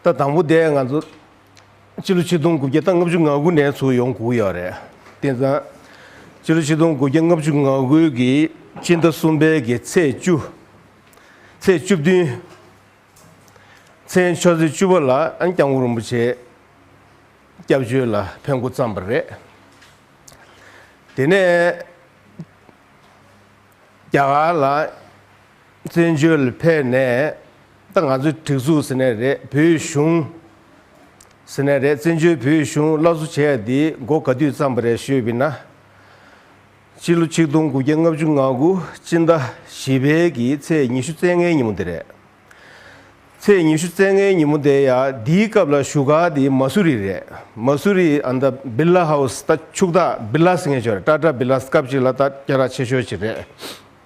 ད་དང་པོ་དེ་ང་ཚོ་སྤྱི་ལོ་ཆིག་སྟོང་དགུ་བརྒྱ་དང་ལྔ་བཅུ་ང་དགུ་ནས་ཚུགས་ཡོང་གུག་ཡོད་རེད། དེ་མཚམས་སྤྱི་ལོ་ཆིག་སྟོང་དགུ་བརྒྱ་ལྔ་བཅུ་ང་དགུ་གི་སྤྱི་ཟླ་གསུམ་པའི་གི་ཚེས་བཅུ། ཚེས་བཅུ་བདུན། མཚན་ཆོས་ཚེས་བཅུ་བ་ལ ྋསྐྱབས་མགོན་རིན་པོ་ཆེ་སྐྱབས་བཅོལ་ལ་ཕེབས་མགོ་བརྩམས་པ་རེད། དེ་ནས་རྒྱ་གར་ལ། བཙན་བྱོལ་ཕེབས་ནས་ད་ང་ཚོའི་སྒྲིག་འཛུགས་ཟེར་ནས་རེད་བོད་གཞུང་ཟེར་ནས་རེད་བཙན་བྱོལ་བོད་གཞུང་སླར་གསོ་བྱས་ཡ་འདི་མགོ་ག་དུས་བརྩམས་པ་རེད་ཤོད་བི་ན། སྤྱི་ལོ་ཆིག་སྟོང་དགུ་བརྒྱ་ལྔ་བཅུ་ང་དགུ་སྤྱི་ཟླ་བཞི་བལ་གྱི་ཚེས་ཉི་ཤུ་རྩེ་ལྔའི་ཉིན་མོ་འདི་རེད། ཚེས་ཉི་ཤུ་རྩེ་ལྔའི་ཉིན་མོ་འདི་ཡ་འདིའི་སྐབས་ལ་བཞུགས་སྒར་འདི་མ་སུ་རི་རེད་མ་སུ་རི་ཨ་ད་བི་ལ་ཧའུ་ས་ད་ཕྱུག་ད་བི་ལ་ས་ངེས་ཆོག་རེད་ཏྲ་ཏྲ་བི་ལ་ས་སྐབས་ཅིག་ལ་ད་སྐྱ་ར་ཆེ་ཤོས་ཅིག་རེད།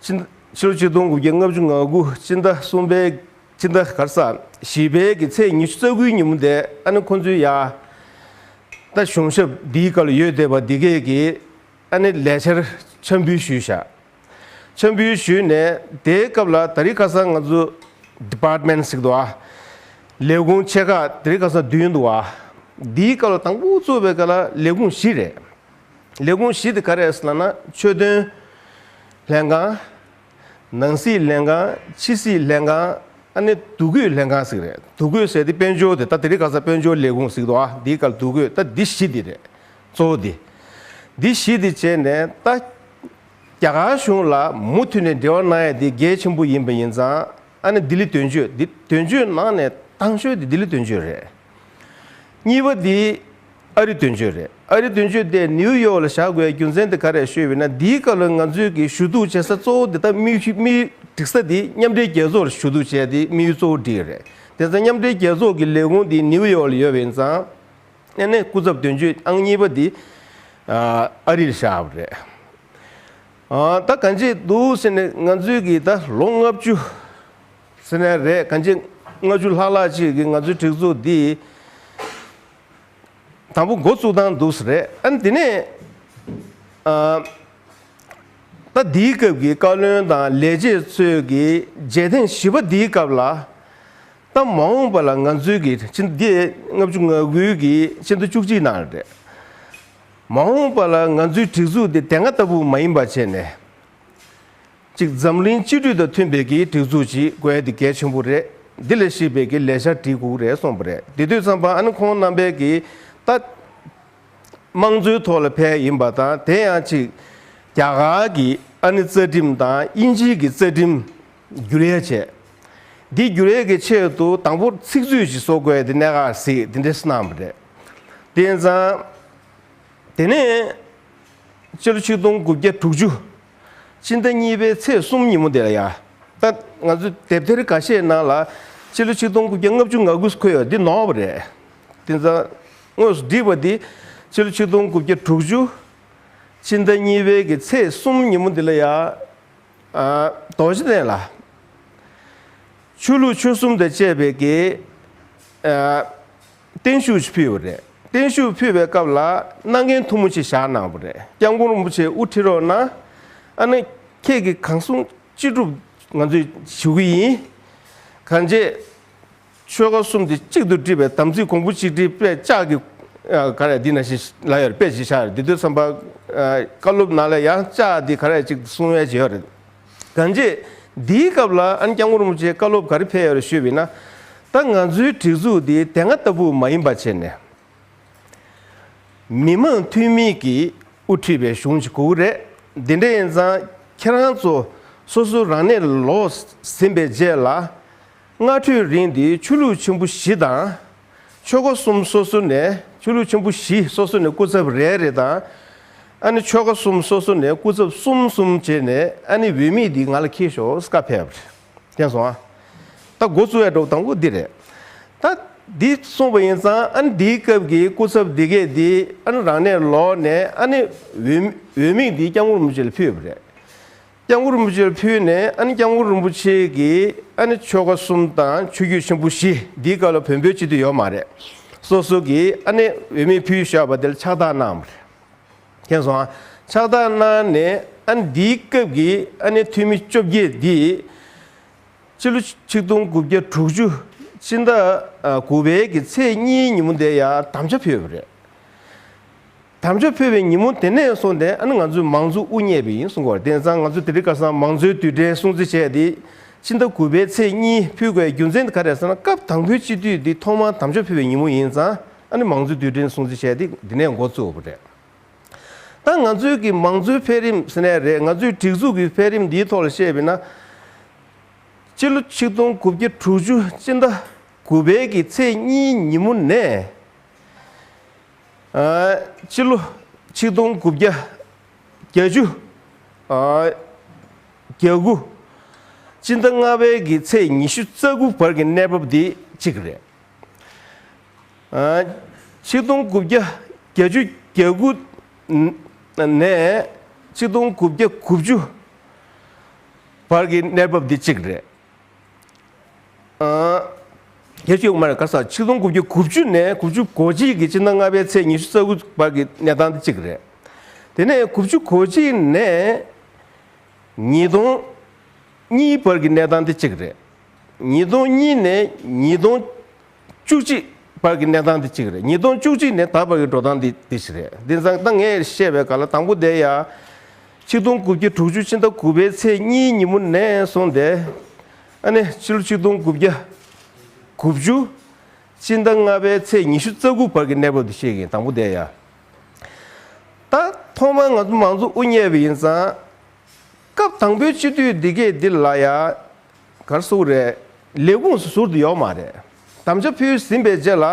སྤྱི། ཕྱི་ལོ་ཆིག་སྟོང་དགུ་བརྒྱ་ལྔ་བཅུ་ང་དགུ་སྤྱི་ཟླ་གསུམ་པའི་སྤྱི་ཟླ་གར་ས་བཞི་པའི་གི་ཚེས་ཉི་ཤུ་རྩ་དགུའི་ཉིན་མོ་དེ་ཨ་ནེ་ཁོང་ཚོའི་ཡ། ད་གཞུང་ཞབས་འདིའི་བཀའ་ལ་ཡོད་བསྡད་པ་འདི་གས་ཀྱིས་ཨ་ནེ་ལས་འཆར་འཆར་འབུལ་ཞུས་བཞག། འཆར་འབུལ་ཞུས་ནས་དེའི་སྐབས་ལ་ད་རིས་ཁ་སང་ང་ཚོ Department ཞིག་ཏུ་ཨ། ལས་ཁུངས་ཆེ་ཁག་དེ་རིས་ཁ་སང་བདུན་འདུག་ཨ། འདིའི་སྐབས་ལ་དང་པོ་གཙོ་བའི་ཀ་ལ་ལས་ཁུངས་བཞི་རེད། ལས་ཁུངས་བཞི་དེ་ག་རེ་ལགས་ན་ཆོས་དོན་ལྷན་ཁང། ནང་སྲིད་ལྷན་ཁང་ཕྱི་སྲིད་ལྷན་ཁང་ཨ་ནི་དུ་གུས་ལྷན་ཁང་ཟིག་རེད་དུ་གུས་ཟེར་དེ་དཔལ་འབྱོར་དེ་ད་དེ་རིགས་ག་ས་དཔལ་འབྱོར་ལས་ཁུངས་ཟིག་དོ་ཨ་འདིའི་སྐལ་དུ་གུས་ད་འདི་བཞི་དེ་རེད་གཙོ་བོ་དེ་འདི་བཞི་དེ་བྱས་ནས་ད་རྒྱ་གར་གཞུང་ལ་མུ་མཐུད་ནས་འབྲེལ་བ་གནང་ཡ་དེ་གལ་ཆེན་པོ་ཡིན་པ་ཡིན་ཙང་ཨ་ནི་ལྡི་ལི་དོན་གཅོད་ལྡི་དོན་གཅོད་ནང་ནས་ཐང་ཤོད་དེ་ལྡི་ལི་དོན་གཅོད་རེད། གཉིས་པ་འདི་ཨ་རི་དོན་གཅོད་རེད་ཨ་རི་དོན་གཅོད་དེ་ནིའུ་ཡོག་ལ་བཞག་དགོས་རྒྱུ་མཚན་དེ་ག་རེད་ཤོད་ཡོད་ན་འདིའི་སྐབས་ལ་ང་ཚོས་ཀྱི་ཞུ་གཏུག་བྱེད་ས་གཙོ་བོ་དེ་ལྟ་དམིགས་ཞུ་དམིགས་སྒྲིག་ས་དེ་མཉམ་འབྲེལ་རྒྱལ་ཚོགས་ལ་ཞུ་གཏུག་བྱས་དེ་དམིགས་ཡུལ་གཙོ་བོ་འདི་རེད་དེ་ཚ་མཉམ་འབྲེལ་རྒྱལ་ཚོགས་ཀྱི་ལས་ཁུངས་དེ་ནིའུ་ཡོག་ལ་ཡོད་པ་ཡིན་ཙང་ཨ་ནེ་སྐུ་ཚབ་དོན་གཅོད་ཨང་གཉིས་པ་དེ་ཨ་རི་ལ་བཞག་པ་རེད་ད་ག་འབྱེད་འདུག་ཟེར་ནས་ང་ཚོས་ཀྱི་ད་ལོ་ལྔ་བཅུ། སེ་ན་རེད་གངས་སྐྱིད་ལྔ་བཅུ་ལྷག་ལྷག་ཅིག་གིས་ང་ཚོའི་སྒྲིག་འཛུགས་འདི་དང་པོ་འགོ་བཙུགས་སྟངས་འདུག་ས་རེད་ཨ་འདི་ནས་ད་འདིའི་སྐབས་ཀྱི་བཀའ་བློན་དང་ལས་བྱེད་ཚོས་ཀྱི་མཇལ་ཐེངས་བཞི་པ་འདིའི་སྐབས་ལ་ད་མ་འོངས་པ་ལ་ང་ཚོའི་གི་ཕྱི་འདི་ལྔ་བཅུ་ང་དགུའི་གི་ཕྱི་ཟླ་བཅུ་གཅིག་ནང་རེད་མ་འོངས་པ་ལ་ང་ཚོའི་སྒྲིག་འཛུགས་འདི་དེ་སྔ་ལྟ་བུ་མ་ཡིན་པ་བྱས་ནས། གཅིག་འཛམ་གླིང་སྤྱི་འཐུས་དང་མཐུན་པའི་གི་སྒྲིག་འཛུགས་ཀྱིས་དགོས་ཡ་འདི་གལ་ཆེན་པོ་རེད་འདི་ལས་ཤེས་པའི་གི་ལས་ཤར་གྲི་གུག་རེད་གསུངས་པ་རེད་དེ་དུས་ཚང་པ་ཨན་ཁོང་རྣམ་པའི་གི་ལྟ། དམངས་གཙོའི་ཐོག་ལ་ཕལ་ཡིན་པ་དང་དེ་ཡང་གཅིག་རྒྱ་གར་གི་ཨ་ནི་རྩ་ཁྲིམས་དང་དབྱིན་ཇིའི་གི་རྩ་ཁྲིམས་བསྒྱུར་ཡ་བྱས་འདི་བསྒྱུར་ཡ་གི་ཆེད་དུ་དང་པོ་ཚིག་མཛོད་ཅིག་བཟོ་དགོས་ཡ་འདི་གནད་འགག་གཟིགས་འདི་འདྲས་གནང་བ་རེད་དེ་ཡིན་ཙང། དེ་ནས་སྤྱི་ལོ་ཆིག་སྟོང་དགུ་བརྒྱ་དྲུག་ཅུ་སྤྱི་ཟླ་གཉིས་པའི་ཚེས་གསུམ་ཉིན་མོ་དེ་ལ་ཡང། ད་ང་ཚོས་དེབ་ཐེར་འགའ་ཤས་ནང་ལ། སྤྱི་ལོ་ཆིག་སྟོང་དགུ་བརྒྱ་ལྔ་བཅུ་ང་དགུ་འཁོད་ཡོད་འདི་ནོར་བ་རེད། དེ་མཚམས་དངོས་སུ་བསྒྲིགས་པ་འདི། སྤྱི་ལོ་ཆིག་སྟོང་དགུ་བརྒྱ་དྲུག་ཅུ། སྤྱི་ཟླ་གཉིས་པའི་གི་ཚེས་གསུམ་ཉིན་མོ་འདི་ལ་ཡང། རྡོ་རྗེ་གདན་ལ། ཆོས་ལུགས་ཆོལ་གསུམ་དང་བཅས་པའི་གི། བརྟན་བཞུགས་ཕུལ་བ་རེད། བརྟན་བཞུགས་ཕུལ་བའི་སྐབས་ལ་སྣ་རྒན་ཐུང་ངུ་ཞིག་བཞག་གནང་བ་རེད་སྐྱབས་མགོན་རིན་པོ་ཆེ་དབུ་ཁྲིད་རོགས་གནང། ཨ་ནི། ཁྱེད་ཀྱིས་གང་གསུང་ཅི་སྒྲུབ་ང་ཚོས་ཞུ་གི་ཡིན། གང་རྗེས། ཆོལ་ཁ་གསུམ་དེ་གཅིག་ཏུ་སྒྲིལ་བའི་དམ་ཚིག་གོང་བུ་གཅིག་སྒྲིལ་དཔེ་ལྕག་གི། ག་རེ་འདི་ན་ཞིག་ལབ་ཡོད་རེད་དཔེ་ཞིག་བཞག་ཡོད་རེད་འདི་ཚོའི་བསམ་པ། བཀའ་སློབ་ནང་ལ་ཡང་ལྕག་འདི་ག་རེ་གཅིག་གསུང་བའི་བྱེད་ཡོད་རེད། ག་འདྲེ། འདིའི་སྐབས་ལ་ཨན་ཀྱང་ངུར་སྨྲུག་ཅེས་བཀའ་སློབ་ག་རེ་ཕེལ་ཡོད་རེ་ཤོད་བས་ན། ད་ང་ཚོའི་སྒྲིག་འཛུགས་འདི་དེ་སྔ་ལྟ་བུ་མ་ཡིན་པ་བྱས་ནས། མི་མང་འཐུས་མི་གིས་དབུ་ཁྲིད་པའི་གཞུང་ཅིག་གོ་གི་རེད། འདི་འདྲ་ཡིན་ཙང་ཁྱེད་རང་ཚོ་སོ་སོ་རང་གནས་ལོག་ཟིན་པའི་རྗེས་ལ། སྔ་དྲོའི་རིང་འདི་ཆོས་ལུགས་ཆེན་པོ་བཞི་དང་ཆོས་སྒོ་གསུམ་སོ་སོ་ནས་ཆོས་ལུགས་ཆེན་པོ་བཞི་སོ་སོ་ནས་སྐུ་ཚབ་རེ་རེ་དང། ཨ་ནི་ཆོལ་ཁ་གསུམ་སོ་སོ་ནས་སྐུ་ཚབ་གསུམ་གསུམ་བྱས་ནས་ཨ་ནི་འོས་མི་འདི་ང་ལ་ཁྱེར་ཞོག་ས་ཀ་ཕེབས། དེང་སོང་ཨ། ད་མགོ་བཙུགས་ཨེ་འགྲོ་དང་པོ་འདི་རེད། ད། འདི་གསུངས་པ་ཡིན་ཙང་ཨ་ནི་འདིའི་སྐབས་ཀྱི་སྐུ་ཚབ་འདི་གས་འདི་ཨ་ནི་རང་གནས་ལོག་ནས་ཨ་ནི་འོས་འོས་མི་འདི་སྐྱབས་ངོར་མུ་ཅི་ལ་ཕུལ་ཡོད་པ་རེད། རྐྱང་བུ་རིན་པོ་ཆེར་ཕུལ་ནས་ཨ་ནི་རྐྱང་བུ་རིན་པོ་ཆེ་གིས་ཨ་ནི་ཆོ་ག་གསུམ་དང་ཆོས་བརྒྱུད་ཆེན་པོ་བཞི་འདིའི་སྐབས་ལ་བོན་པོའི་སྤྱི་འཐུས་ཡོད་མ་རེད། སོ་སོ་གིས་ཨ་ནི་འོས་མི་ཕུལ་ཞོག་པ་དེར་ཕྱག་རྟགས་གནང་བ་རེད། མཁྱེན་སོང་ཨ། ཕྱག་རྟགས་གནང་ནས་ཨ་ནི་འདིའི་སྐབས་ཀྱི་ཨ་ནི་འཐུས་མི་བཅོ་བརྒྱད་འདིས། སྤྱི་ལོ་ཆིག་སྟོང་དགུ་བརྒྱ་དྲུག་ཅུ་སྤྱི་ཟླ་དགུ་བའི་གི་ཚེས་གཉིས་ཉིན་མོ་འདི་ཡར་དམ་བཅའ་ཕུལ་བ་རེད། དམ་ཆོས་ཕུལ་བའི་ཉིན་མོ་དེ་ནས་བཟུང་སྟེ་ཨ་ནི་ང་ཚོའི་མང་གཙོའི་དབུ་བརྙེས་པ་ཡིན་གསུངས་པར་བརྟེན་ཙང་ང་ཚོས་དེ་རིང་ཁར་སང་མང་གཙོའི་དུས་དྲན་སྲུང་བརྩི་བྱས་ཏེ། ཕྱི་ཟླ་དགུ་པའི་ཚེས་གཉིས་ཕུལ་དགོས་རྒྱུ་མཚན་དེ་ག་རེད་ཟེར་ན་སྐབས་དང་པོའི་སྤྱི་འཐུས་འདི་ཐོག་མར་དམ་ཆོས་ཕུལ་བའི་ཉིན་མོ་ཡིན་ཙང་ཨ་ནི་མང་གཙོའི་དུས་དྲན་སྲུང་བརྩི་བྱས་ཏེ་འདི་ནས་འགོ་བཙུགས་པ་རེད། ད་ང་ཚོའི་གི་མང་གཙོའི་འཕེལ་རིམ་ཟེར་ནས་རེད་ང་ཚོས་སྒྲིག་འཛུགས་ཀྱི་འཕེལ་རིམ་འདིའི་ཐོག་ལ་བཤད་པས་ན། སྤྱི་ལོ་ཆིག་སྟོང་དགུ་བརྒྱ་དྲུག་ཅུ་སྤྱི་ཟླ་དགུ་པའི་གི་ཚེས་གཉིས་ཉིན་མོ་ནས། སྤྱི་ལོ་ཆིག་སྟོང་དགུ་བརྒྱ་གྱ་བཅུ་གྱ་དགུ། སྤྱི་ཟླ་ལྔ་བའི་གི་ཚེས་ཉི་ཤུ་རྩ་དགུ་བར་གྱི་གནས་བབ་འདི་གཅིག་རེད། ཆིག་སྟོང་དགུ་བརྒྱ་གྱ་བཅུ་གྱ་དགུ་ནས་ཆིག་སྟོང་དགུ་བརྒྱ་དགུ་བཅུ་བར་གྱི་གནས་བབ་འདི་གཅིག་རེད། ལྷས་བྱིའུ་དབུ་མར་སྐར་སར་ཆིག་སྟོང་དགུ་བརྒྱ་དགུ་བཅུ་ནས་དགུ་བཅུ་གོ་གཅིག་གི་སྤྱི་ཟླ་ལྔ་པའི་ཚེས་ཉི་ཤུ་རྩ་དགུ་བར་གྱི་གནས་སྟངས་དེ་གཅིག་རེད། དེ་ནས་དགུ་བཅུ་གོ་གཅིག་ནས་ཉིས་སྟོང་གཉིས་བར་གྱི་གནས་སྟངས་དེ་གཅིག་རེད། ཉིས་སྟོང་གཉིས་ནས་ཉིས་སྟོང་བཅུ་གཅིག། བར་གྱི་གནས་སྟངས་འདི་གཅིག་རེད་ཉིས་སྟོང་བཅུ་གཅིག་ནས་ད་བར་གྱི་འགྲོ་སྟངས་འདི་འདི་ཞིག་རེད་འདི་ཙང་ད་ངས་བཤད་པའི་སྐར་ལ་དང་པོ་དེ་ཡ། ཆིག་སྟོང་དགུ་བརྒྱ་དྲུག་ཅུ་ཕྱི་ཟླ་དགུ་པའི་ཚེས་གཉིས་ཉིན་མོ་ནས་སོང་སྟེ། ཨ་ནི་ཕྱི་ལོ་ཆིག་སྟོང་དགུ་བརྒྱ་དགུ་བཅུ། ཕྱི་ཟླ་ལྔ་པའི་ཚེས་ཉི་ཤུ་རྩ་དགུ་བར་གྱི་གནས་བབ་འདི་ཤེས་གིན་དང་པོ་དེ་ཡ། ད་ཐོག་མར་ང་ཚོ་མང་གཙོ་དབུ་བརྙེས་པ་ཡིན་ཙང། སྐབས་དང་པོའི་སྤྱི་འཐུས་འདི་གས་འདི་ལ་ཡ། གར་སོགས་རེད། ལས་ཁུངས་སུ་ཟུར་དུ་ཡོག་མ་རེད། དམ་བཅའ་ཕུལ་ཟིན་པའི་རྗེས་ལ་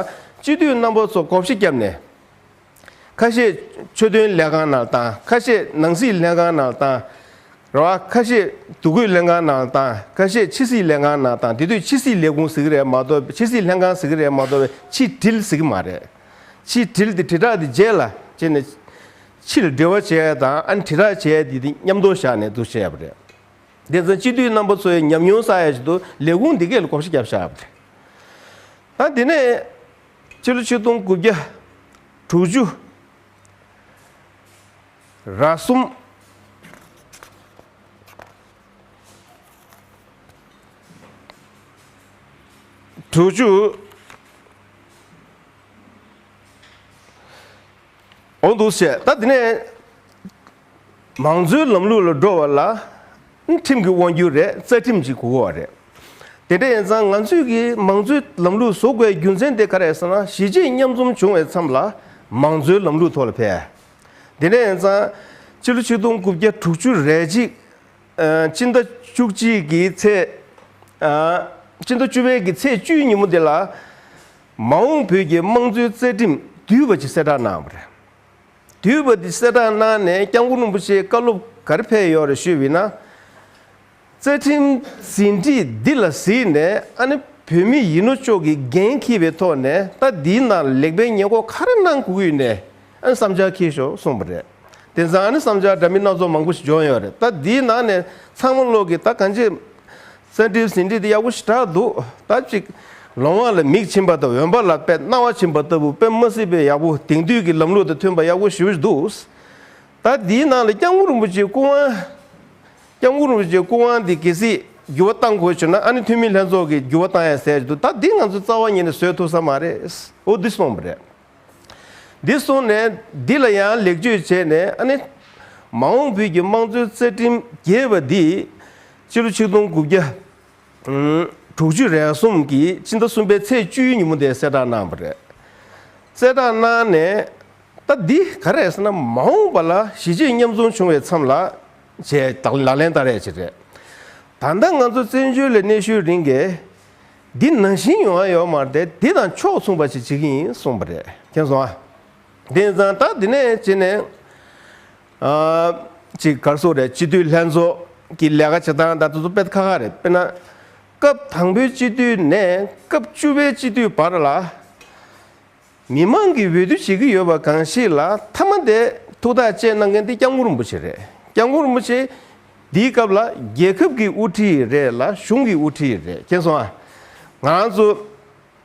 སྤྱི་འཐུས་རྣམ་པ་ཚོ་གོ་བཞི་བརྒྱབ་ནས། ཁ་ཤས་ཆོས་དོན་ལས་ཁང་ནང་བཏང་ཁ་ཤས་ནང་སྲིད་ལྷན་ཁང་ནང་བཏང། རེད་བ། ཁ་ཤས་འདུ་འགོད་ལྷན་ཁང་ནང་བཏང་ཁ་ཤས་ཕྱི་སྲིད་ལས་ཁང་ནང་བཏང་དེ་དུས་ཕྱི་སྲིད་ལས་ཁུངས་ཟིག་རེད་མ་གཏོགས་ཕྱི་སྲིད་ལྷན་ཁང་ཟིག་རེད་མ་གཏོགས་པའི་ཕྱི་དྲིལ་ཟིག་མ་རེད། ཕྱི་དྲིལ་དེ་དྲིལ་བསྒྲགས་དེ་རྗེས་ལ་བྱས་ནས། ཕྱིར་སྦྲེལ་བ་བྱས་དང་ཨན་དྷི་རག་བྱས་དེ་དེ་མཉམ་དུ་བཞག་ནས་འདུ་བྱས་པ་རེད། དེ་ཚོ་སྤྱི་འཐུས་རྣམ་པ་ཚོའི་ཉམས་མྱོང་ས་ཡ་ཞིག་ཏུ་ལས་ཁུངས་འདི་གས་ལ་གོམས་ཤིག་བརྒྱབ་བཞག་པ་རེད། ཨ་དེ་ནས་ཕྱི་ལོ་ཆིག་སྟོང་དགུ་བརྒྱ་དྲུག་ཅུ་ར་གསུམ། དྲུག་ཅུ། འོང་འདུག་བཤད་ད་དེ་ནས་མང་གཙོའི་ལམ་ལུགས་ལ་འགྲོ་བ་ལ་ཁྲིམས་ཀྱི་དབང་སྒྱུར་རེད་རྩ་ཁྲིམས་ཀྱི་གོ་བ་རེད་དེ་འདྲ་ཡིན་ཙང་ང་ཚོས་ཀྱི་མང་གཙོའི་ལམ་ལུགས་བཟོ་དགོས་རྒྱུ་མཚན་དེ་ག་རེད་ཟེར་ན་གཞིས་བྱེས་མཉམ་འཛོམས་བྱུང་བའི་མཚམས་ལ་མང་གཙོའི་ལམ་ལུགས་ཐོག་ལ་ཕེབས་དེ་འདྲ་ཡིན་ཙང་སྤྱི་ལོ་ཆིག་སྟོང་དགུ་བརྒྱ་དྲུག་བཅུ་རེ་གཅིག་སྤྱི་ཟླ་བཅུ་གཅིག་གི་ཚེས་སྤྱི་ཟླ་བཅུ་པའི་གི་ཚེས་བཅུའི་ཉིན་མོ་དེ་ལ་མ་འོངས་བོད་ཀྱི་དམངས་གཙོའི་རྩ་ཁྲིམས་དུས་བབ་ཀྱི་གསལ་བསྒྲགས་གནང་བ་རེད། དུས་བབ་འདི་གསལ་བསྒྲགས་གནང་ནས་སྐྱབས་མགོན་རིན་པོ་ཆེའི་བཀའ་སློབ་གར་ཕེབས་ཡོད་རེད་ཤོད་བས་ན། རྩ་ཁྲིམས་ཟིན་བྲིས་འདི་ལ་གཟིགས་ནས་ཨ་ནི་བོད་མི་ཡིན་ནོ་ཅོག་གིས་འགན་འཁྱིལ་བའི་ཐོག་ནས་ལྟ་འདིའི་ནང་ལེགས་པའི་ཉེས་འགོག་ག་རེ་གནང་དགོས་ནས། ཨན་བསམ་འཆར་འཁྱེར་ཞོར་གསུངས་པ་རེད། དེ་མཚམས་ཨན་བསམ་འཆར་འདྲ་མིན་སྣ་ཚོགས་མང་པོ་ཞིག་འབྱོར་ཡོད་རེད་ད་འདིའི་ནང་ནས་ཚང་མ་ཀློག་གིས་ད་གང་ཅི། གསལ་འགྲེལ་ཟིན་བྲིས་འདི་ཡག་པོ་ཞེ་དྲག་འདུག་ད་ཅིག། ལོང་བ་ལ་མིག་བྱིན་པ་དང་འོན་པ་ལ་དཔེ་རྣ་བ་བྱིན་པ་ལྟ་བུ་དཔེ་མ་སྲིད་པའི་ཡག་པོ་དེང་དུས་ཀྱི་ལམ་ལུགས་དང་མཐུན་པ་ཡག་པོ་ཞིབ་བཞི་འདུག། ད་འདིའི་ནང་ལ་སྐྱབས་མགོན་རིན་པོ་ཆེའི་སྐུ་དབང། སྐྱབས་མགོན་རིན་པོ་ཆེའི་སྐུ་དབང་འདི་གལ་སྲིད་འགྱུར་བ་གཏང་དགོས་བྱུང་ན་ཨ་ནི་འཐུས་མི་ལྷན་ཚོགས་ཀྱིས་འགྱུར་བ་གཏང་ཡ་ཟེར་གྱི་འདུག་ད་འདི་ང་ཚོས་རྩ་བ་ཉིད་ནས་བཟོད་ཐུབ་ས་མ་རེད་འོ་འདི་གསུངས་པ་རེད། འདི་གསུངས་ནས་འདི་ལ་ཡང་ལེགས་བཅོས་བྱས་ནས་ཨ་ནི། མ་འོངས་བོད་ཀྱི་དམངས་གཙོའི་རྩ་ཁྲིམས་རྒྱས་པ་འདིས། སྤྱི་ལོ་ཆིག་སྟོང་དགུ་བརྒྱ། དྲུག་ཅུ་རེ་གསུམ་གྱི་ཕྱི་ཟླ་གསུམ་པའི་ཚེས་བཅུའི་ཉིན་མོ་དེ་གསལ་བསྒྲགས་གནང་བ་རེད། གསལ་བསྒྲགས་གནང་ནས། ད་འདི་ག་རེད་ཟེར་ན་མ་འོངས་པ་ལ་གཞིས་བྱེས་མཉམ་འཛོམས་བྱུང་བའི་མཚམས་ལ། ཞེས་ལག་ལེན་བསྟར་ཡ་ཆེད་རེད། ད་ལྟ་ང་ཚོ་བཙན་བྱོལ་ལས་གནས་ཤོད་རིང་གི། འདི་ནང་བཞིན་ཡོང་ཨ་ཡོག་མར་དེ་དེ་དང་ཕྱོགས་མཚུངས་པ་ཞིག་བྱེད་ཀྱི་ཡིན་གསུངས་པ་རེད་མཁྱེན་སོང་ཨ། དེ་ཡིན་ཙང་ད་དེ་ནས་བྱེད་ནས་ཅིག་གར་སོང་རེད་སྤྱི་འཐུས་ལྷན་ཚོགས་ཀྱི་ལས་ཀ་བྱེད་སྟངས་ད་དེ་ཚོ་དཔེ་ཁ་ཁ་རེད་དཔེར་ན། སྐབས་དང་པོའི་སྤྱི་འཐུས་ནས་སྐབས་བཅུ་པའི་སྤྱི་འཐུས་བར་ལ། མི་མང་གིས་འོས་བསྡུ་བྱེད་ཀྱི་ཡོད་པ་གང་ཞིག་ལ་མཐའ་མ་དེ་ཐུགས་ཐག་བཅད་གནང་མཁན་དེ་སྐྱབས་མགོན་རིན་པོ་ཆེ་རེད། སྐྱབས་མགོན་རིན་པོ་ཆེ། འདིའི་སྐབས་ལ་རྒྱལ་ཁབ་ཀྱི་དབུ་ཁྲིད་རེད་ལ་གཞུང་གི་དབུ་ཁྲིད་རེད་མཁྱེན་སོང་ཨ། ང་རང་ཚོ།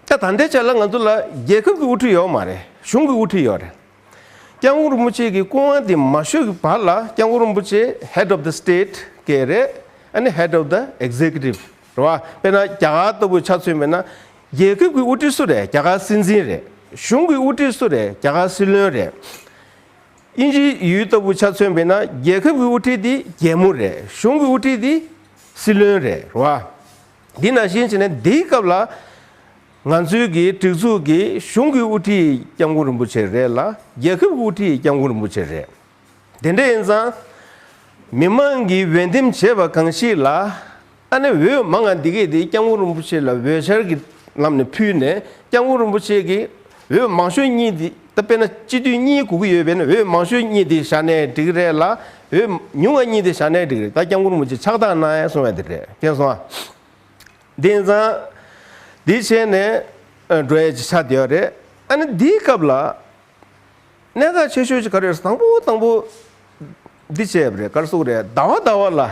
ད་ད་ལྟའི་ཆ་ལ་ང་ཚོ་ལ་རྒྱལ་ཁབ་ཀྱི་དབུ་ཁྲིད་ཡོད་མ་རེད་གཞུང་གི་དབུ་ཁྲིད་ཡོད་རེད། སྐྱབས་མགོན་རིན་པོ་ཆེ་གི་སྐུ་དབང་དེ་མ་ཤོར་གྱི་བར་ལ་སྐྱབས་མགོན་རིན་པོ་ཆེ Head of the State སྐད་རེད་ཨ་ནི Head of the Executive རེད་བ། དཔེར་ན་རྒྱ་གར་ལྟ་བུའི་ཆ་མཚོན་མེད་ན། རྒྱལ་ཁབ་ཀྱི་དབུ་ཁྲིད་སུ་རེད་རྒྱ་གར་སྲིད་འཛིན་རེད། གཞུང་གི་དབུ་ཁྲིད་སུ་རེད་རྒྱ་གར་སྲིད་བློན་རེད། དབྱིན་ཇི་ཡུལ་ལྟ་བུའི་ཆ་མཚོན་མེད་ན་རྒྱལ་ཁབ་ཀྱི་དབུ་ཁྲིད་དེ་རྒྱལ་མོ་རེད་གཞུང་གི་དབུ་ཁྲིད་དེ་སྲིད་བློན་རེད་བ། འདི་ནང་བཞིན་བྱས་ན་འདིའི་སྐབས་ལ། ང་ཚོའི་གི་སྒྲིག་འཛུགས་ཀྱི་གཞུང་གི་དབུ་ཁྲིད་སྐྱབས་མགོན་རིན་པོ་ཆེ་རེད་ལ་རྒྱལ་ཁབ་ཀྱི་དབུ་ཁྲིད་སྐྱབས་མགོན་རིན་པོ་ཆེ་རེད། དེ་འདྲ་ཡིན་ཙང། མི་མང་གིས་འོས་འདེམས་བྱས་པ་གང་ཞིག་ལ། ཨ་ནེ་འོས་མང་ང་འདི་གས་དེ་སྐྱབས་མགོན་རིན་པོ་ཆེ་ལ་འོས་འཆར་གྱི་ལམ་ནས་ཕུལ་ནས་སྐྱབས་མགོན་རིན་པོ་ཆེ་གི་འོས་མང་ཤོས་གཉིས་འདི་ད་དཔེ་ན་སྤྱི་འཐུས་གཉིས་གོ་གི་ཡོད་པས་ན་འོས་མང་ཤོས་གཉིས་འདི་བཞག་ནས་འགྲིག་རེད་ལ་འོས་ཉུང་བ་གཉིས་འདི་བཞག་ནས་འགྲིག་རེད་ད་སྐྱབས་མགོན་རིན་པོ་ཆེ་ཕྱག་བཏང་གནང་ཡ་སོང་བ་འདི་རེད་ཁེང་སོང་ཨ། དེ་ཡིན་ཙང། འདི་བྱས་ནས་འགྲོ་ཡ་ཅི་ཆགས་བསྡད་ཡོད་རེད་ཨ་ནེ་འདིའི་སྐབས་ལ། གནས་འགའ་ཆེ་ཤོས་ཀྱི་གར་རེར་དང་པོ་དང་པོ། འདི་བྱས་པ་རེད་གར་སོགས་རེད་ཟླ་བ་ཟླ་བ་ལ།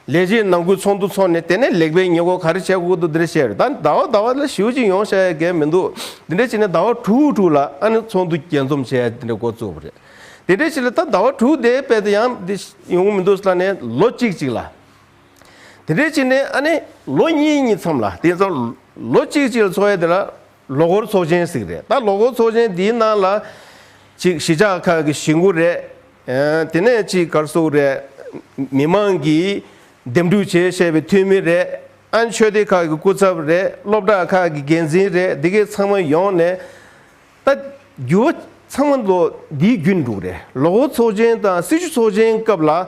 ལས་བྱེད་ནང་ཁུལ་ཚོགས་འདུ་འཚོགས་ནས་དེ་ནས་ལེགས་པའི་ཉེས་གོ་ག་རེ་བྱས་ཁོག་ཏུ་འདི་འདྲ་བྱས་རེད་ད་ནི་ཟླ་བ་ཟླ་བ་ལ་ཞེའུ་གཅིག་ཡོང་བྱ་ཡ་གལ་མི་འདུག་འདི་འདྲ་བྱས་ནས་ཟླ་བ་དྲུག་དྲུག་ལ་ཨ་ནི་ཚོགས་འདུ་རྒྱས་འཛོམས་བྱས་ཡ་འདི་འདྲ་འགོ་བཙུགས་པ་རེད། དེ་འདྲ་བྱས་ལ་ད་ཟླ་བ་དྲུག་དེའི་དཔལ་དུ་ཡང་འདི་ཡོང་གི་མི་འདུག་ཟླ་ནས་ལོ་གཅིག་ཅིག་ལ། དེ་འདྲ་བྱས་ནས་ཨ་ནི་ལོ་གཉིས་གཉིས་མཚམས་ལ་དེ་ཚོ་ལོ་གཅིག་ཅིག་ལ་འཚོགས་ཡ་དེ་ལ་ལོ་འཁོར་ཚོགས་ཆེན་ཟིག་རེད་ད་ལོ་འཁོར་ཚོགས་ཆེན་འདིའི་ནང་ལ། གཅིག་གཞིས་ཆགས་ཁག་གི་གཞིས་འགོ་རེད། དེ་ནས་གཅིག་སྒར་གཟུགས་རེད། མི་མང་གིས་འདེམས་སྒྲུག་བྱེད་བཤད་པའི་འཐུས་མི་རེད། ཨན་ཆོས་སྡེ་ཁག་གི་སྐུ་ཚབ་རེད་སློབ་གྲྭ་ཁག་གི་འགན་འཛིན་རེད་འདི་གས་ཚང་མ་ཡོང་ནས། ད་རྒྱུ་བ་ཚང་མ་ལོ་འདིའི་རྒྱུན་འགྲུག་རེད་ལོ་འཁོར་ཚོགས་ཆེན་དང་སྲིད་བྱུས་ཚོགས་ཆེན་སྐབས་ལ།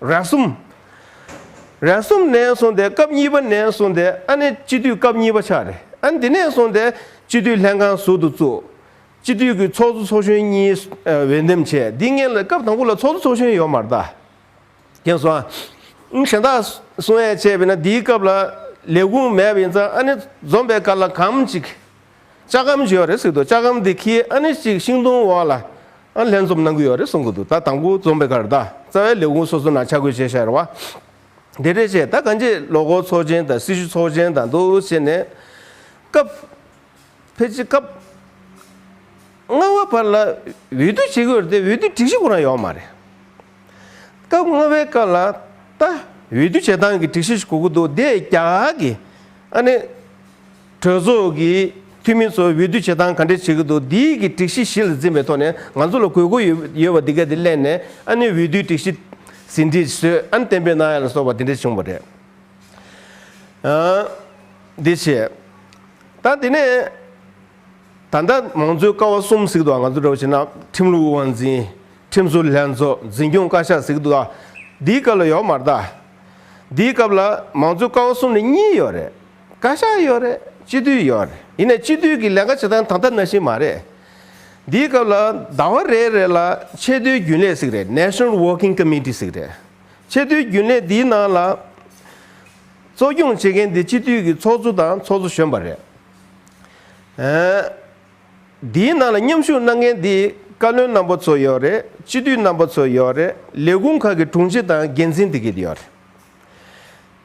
རེག་གསུམ། རེག་གསུམ་ནས་བཟུང་སྟེ་སྐབས་གཉིས་པ་ནས་བཟུང་སྟེ་ཨ་ནི་སྤྱི་འཐུས་སྐབས་གཉིས་པ་ཆགས་རེད་ཨ། འདི་ནས་བཟུང་སྟེ་སྤྱི་འཐུས་ལྷན་ཁང་ཟུར་དུ་བཙུགས། སྤྱི་འཐུས་ཀྱི་ཚོགས་གཙོ་ཚོགས་གཞོན་གཉིས་འོས་འདེམས་བྱས་འདི་ངེད་ལ་སྐབས་དང་པོ་ལ་ཚོགས་གཙོ་ཚོགས་གཞོན་ཡོད་མ་རེད་ད། ཁྱེད་སོང་ཨ། གཞན་དག་སོང་ཨེ་བྱས་པས་ན་འདིའི་སྐབས་ལ་ལས་ཁུངས་མེད་པ་ཡིན་ཙང་ཨ་ནི་འཛོམས་པའི་སྐར་ལ་གམ་ཅིག་ལྕགས་ཁམ་ཞེས་པ་རེད་ཟེར་གི་འདུག་ལྕགས་ཁམ་དེ་ཁྱེད་ཨ་ནི་ཅིག་ཤིང་སྡོང་འོག་ལ་ལྷན་འཛོམས་གནང་གི་ཡོད་རེད་གསུང་གི་འདུག་ད་དང་པོ་འཛོམས་པའི་ཁར་ད་རྩ་བའི་ལས་ཁུངས་སོ་སོ་ན་ཆ་བགོས་བྱེད་བཞག་རེད་བ། དེ་འདྲས་བྱས་ད་གང་ཅི་ལོ་འཁོར་ཚོགས་ཆེན་དང་སྲི་ཞུ་ཚོགས་ཆེན་དང་འདུ་བྱེད་ནས་སྐབས་ཕལ་ཆེ་སྐབས་ལྔ་བ་བར་ལ་འོས་བསྡུ་བྱེད་གི་ཡོད་རེད་དེ་འོས་བསྡུ་སྒྲིག་གཞི་ཁོ་རང་ཡོད་མ་རེད། སྐབས་ལྔ་བའི་སྐབས་ལ་ད་འོས་བསྡུ་བྱེད་སྟངས་ཀྱི་སྒྲིག་གཞི་ཞིག་གོ་གི་འདུག་དེ་རྒྱ་གར་གྱི་ཨ་ནི་གྲོས་ཚོགས་ཀྱི་འཐུས་མི་ཚོ་འོས་བསྡུ་བྱེད་སྟངས་ག་འདྲས་བྱེད་ཀྱི་འདུག་འདིའི་གི་སྒྲིག་གཞི་གཞི་ལ་འཛིན་པའི་ཐོག་ནས་ང་ཚོ་ལ་དགོས་མཁོ་ཡོད་པ་འདི་ག་དེ་གླེང་ནས་ཨ་ནི་འོས་བསྡུའི་སྒྲིག་གཞི་ཟིན་བྲིས་བཟོས་ཨ་ནི་གཏན་འབེབས་གནང་ཡ་ལ་སོགས་པ་དེ་འདྲས་བྱུང་བ་རེད། འདི་བྱེད། ད་དེ་ནས་ད་ལྟ་མང་གཙོའི་ཀ་བ་གསུམ་ཟིག་འདུག་ང་ཚོ་འགྲོ་བ་ཕྱིན་ན་ཁྲིམས་ལུགས་དབང་འཛིན། ཁྲིམས་བཟོ་ལྷན་ཚོགས་འཛིན་སྐྱོང་བཀའ་ཤག་ཟིག་འདུག་འདིའི་སྐབས་ལ་ཡོག་མ་རྟ། འདིའི་སྐབས་ལ་མང་གཙོའི་ཀ་བ་གསུམ་ནས་གཉིས་ཡོག་རེད། བཀའ་ཤག་ཡོད་རེད་སྤྱི་འཐུས་ཡོད་རེད་ཡིན་ནས་སྤྱི་འཐུས་ཀྱི་ལས་ཀ་བྱེད་སྟངས་ད་ལྟ་ན་བཞིན་མ་རེད། འདིའི་སྐབས་ལ་ཟླ་བ་རེ་རེ་ལ་ཆེས་མཐོའི་རྒྱུན་ལས་ཟིག་རེད National Working Committee ཟིག་རེད། ཆེས་མཐོའི་རྒྱུན་ལས་འདིའི་ནང་ལ་གཙོ་སྐྱོང་བྱེད་མཁན་དེ་སྤྱི་འཐུས་ཀྱི་ཚོགས་གཙོ་དང་ཚོགས་གཙོ་གཞོན་པ་རེད། འདིའི་ནང་ལ་མཉམ་ཞུགས་གནང་མཁན་དེ་བཀའ་བློན་རྣམ་པ་ཚོ་ཡོད་རེད་སྤྱི་འཐུས་རྣམ་པ་ཚོ་ཡོད་རེད་ལས་ཁུངས་ཁག་གི་དྲུང་ཆེ་དང་འགན་འཛིན་དེ་གས་ཡོད་རེད།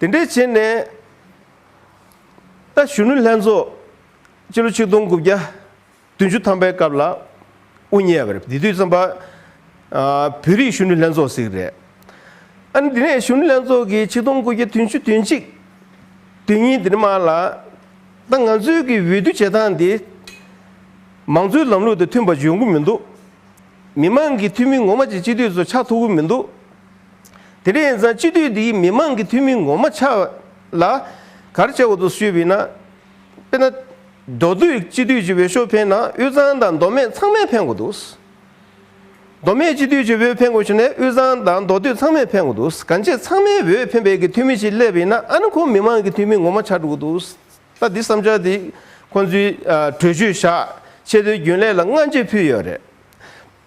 དེ་འདྲའི་བྱས་ནས། ད་གཞོན་ནུ་ལྷན་ཚོགས་སྤྱི་ལོ་ཆིག་སྟོང་དགུ་བརྒྱ་བདུན་ཅུ་ཐམ་པའི་སྐབས་ལ་དབུ་བརྙེས་པ་རེད་དེ་དུས་བརྩམས་པ་བོད་རིགས་གཞོན་ནུ་ལྷན་ཚོགས་ཟིག་རེད། ཨ་ནི་དེ་ནས་གཞོན་ནུ་ལྷན་ཚོགས་ཀྱི་ཆིག་སྟོང་དགུ་བརྒྱ་དུན་ཅུ་དུན་གཅིག་དུན་གཉིས་དེ་མ་ལ་ད་ང་ཚོའི་གི་འོས་བསྡུ་བྱེད་སྟངས་དེ་མང་གཙོའི་ལམ་ལུགས་དང་མཐུན་པ་འཇོན་གི་མི་འདུག་མི་མང་གི་འཐུས་མི་ངོ་མ་ཅིག་སྤྱི་འཐུས་ཚོ་ཆགས་ཐུབ་གི་མི་འདུག། དེ་རིང་ཡང་སྤྱི་འཐུས་འདིའི་མི་མང་གི་འཐུས་མི་ངོ་མ་ཆགས་ལ། གར་བྱེད་འོག་ཏུ་བསུས་བས་ན། དཔེར་ན། མདོ་སྟོད་སྤྱི་འཐུས་ཀྱི་འོས་ཤོག་འཕེན་ན་དབུས་གཙང་དང་མདོ་སྨད་ཚང་མས་འཕེན་དགོས་འདུག། མདོ་སྨད་སྤྱི་འཐུས་ཀྱི་འོས་འཕེན་དགོས་བྱུང་ན་དབུས་གཙང་དང་མདོ་སྟོད་ཚང་མས་འཕེན་དགོས་འདུག་གང་ཅེས་ཚང་མའི་འོས་འཕེན་པའི་གི་འཐུས་མི་ཞིག་སླེབས་བས་ན་ཨ་ནི་ཁོང་མི་མང་གི་འཐུས་མི་ངོ་མ་ཆགས་འགྲོ་གི་འདུག་ད་འདི་བསམ་འཆར་འདི་ཁོང་ཚོའི་གྲོས་ཆོད་བཞག་ཆེད་དོན་རྒྱུན་ལས་ལ་སྔ་འགྱེད་ཕུལ་ཡོད་རེད།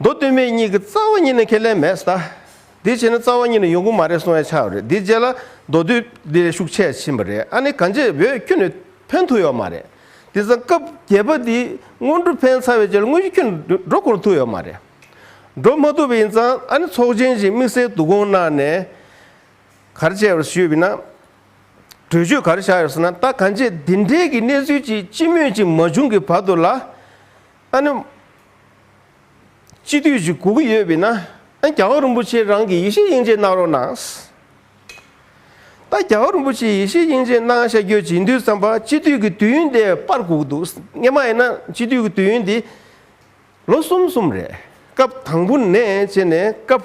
མདོ་སྟོད་སྨད་གཉིས་ཀྱི་རྩ་བ་གཉིས་ནི་ཁས་ལེན་མེད་ས། དེའི་ཕྱིར་ན་རྩ་བ་གཉིས་ནི་ཡོང་གི་མ་རེད་གསུང་ཡ་ཆའོ་རེད་དེའི་རྗེས་ལ་མདོ་སྟོད་འདི་ལས་ཤུགས་ཆད་ཕྱིན་པ་རེད་ཨ་ནི་གང་ཅེས་བོད་ཁྱོད་ནི་ཕན་ཐུག་ཡོད་མ་རེད། དེང་སང་སྐབས་བརྒྱད་པ་འདིས་སྔོན་འགྲོ་ཕན་ཚ་བའི་རྗེས་ལ་དངོས་གཞི་ཁྱོད་ནི་འགྲོ་གོང་ཐུག་ཡོད་མ་རེད། འགྲོ་མ་ཐུག་པ་ཡིན་ཙང་ཨ་ནི་ཚོགས་ཆེན་བཞིན་དམིགས་བསལ་འདུ་སྐོང་གནང་ནས་གར་བྱས་པར་ཞུས་པས་ན། གྲོས་ཆོད་གར་བཞག་ཡོད་ས་ན་ད་གང་ཅེས་འདི་འདྲའི་གི་གནས་ཚུལ་ཅིག་སྤྱི་མོས་ཅིག་མ་བྱུང་གི་བར་དུ་ལ། ཨ་ནུ། སྤྱི་འཐུས་བཞུགས་གོ་གི་ཡོད་བས་ན་རྒྱ་གར་རིན་པོ་ཆེ་རང་གི་ཡེ་ཤེས་དབྱིངས་ཅན་གནང་རོགས་གནང། ད་རྒྱ་གར་རིན་པོ་ཆེ་ཡེ་ཤེས་དབྱིངས་ཅན་གནང་ཤག་ཁྱོད་བྱེད་འདུན་བསམ་པ་སྤྱི་འཐུས་ཀྱི་དུས་ཡུན་དེ་པར་གོ་གི་འདུག་རྔན་མ་ཡིན་ན་སྤྱི་འཐུས་ཀྱི་དུས་ཡུན་དེ་ལོ་གསུམ་གསུམ་རེད་སྐབས་དང་པོ་ནས་བྱས་ནས་སྐབས།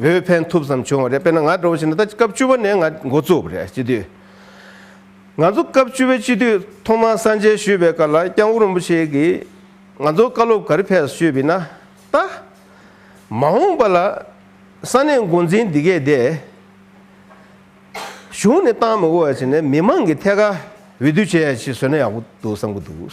བོད་ཕན་ཐུབ་ཙམ་བྱུང་བ་རེད་དཔེར་ན་ང་འགྲོ་བ་ཞིག་ན་ད་སྐབས་བཅུ་བ་ནས་ང་འགོ་བཙུགས་པ་རེད་སྤྱི་འཐུས། ང་ཚོ་སྐབས་བཅུ་བའི་སྤྱི་འཐུས་ཐོག་མར་གསར་མཇལ་ཞུས་པའི་སྐབས་ལ་སྐྱང་བོ་རིན་པོ་ཆེ་གིས་ང་ཚོ་བཀའ་སློབ་ག་རེ་ཕེབས་ཞུས་པས་ན་ད། མ་འོངས་པ་ལ་ས་གནས་མགོ་འཛིན་འདི་གས་དེ། གཞུང་ནས་བཏང་མི་དགོས་བ་ཞིག་ནས་མི་མང་གི་ཐད་ཀ་འོས་བསྡུ་བྱས་ཡ་ཞིག་བཟོས་ན་ཡག་པོ་འདུག་བསམ་གི་འདུག།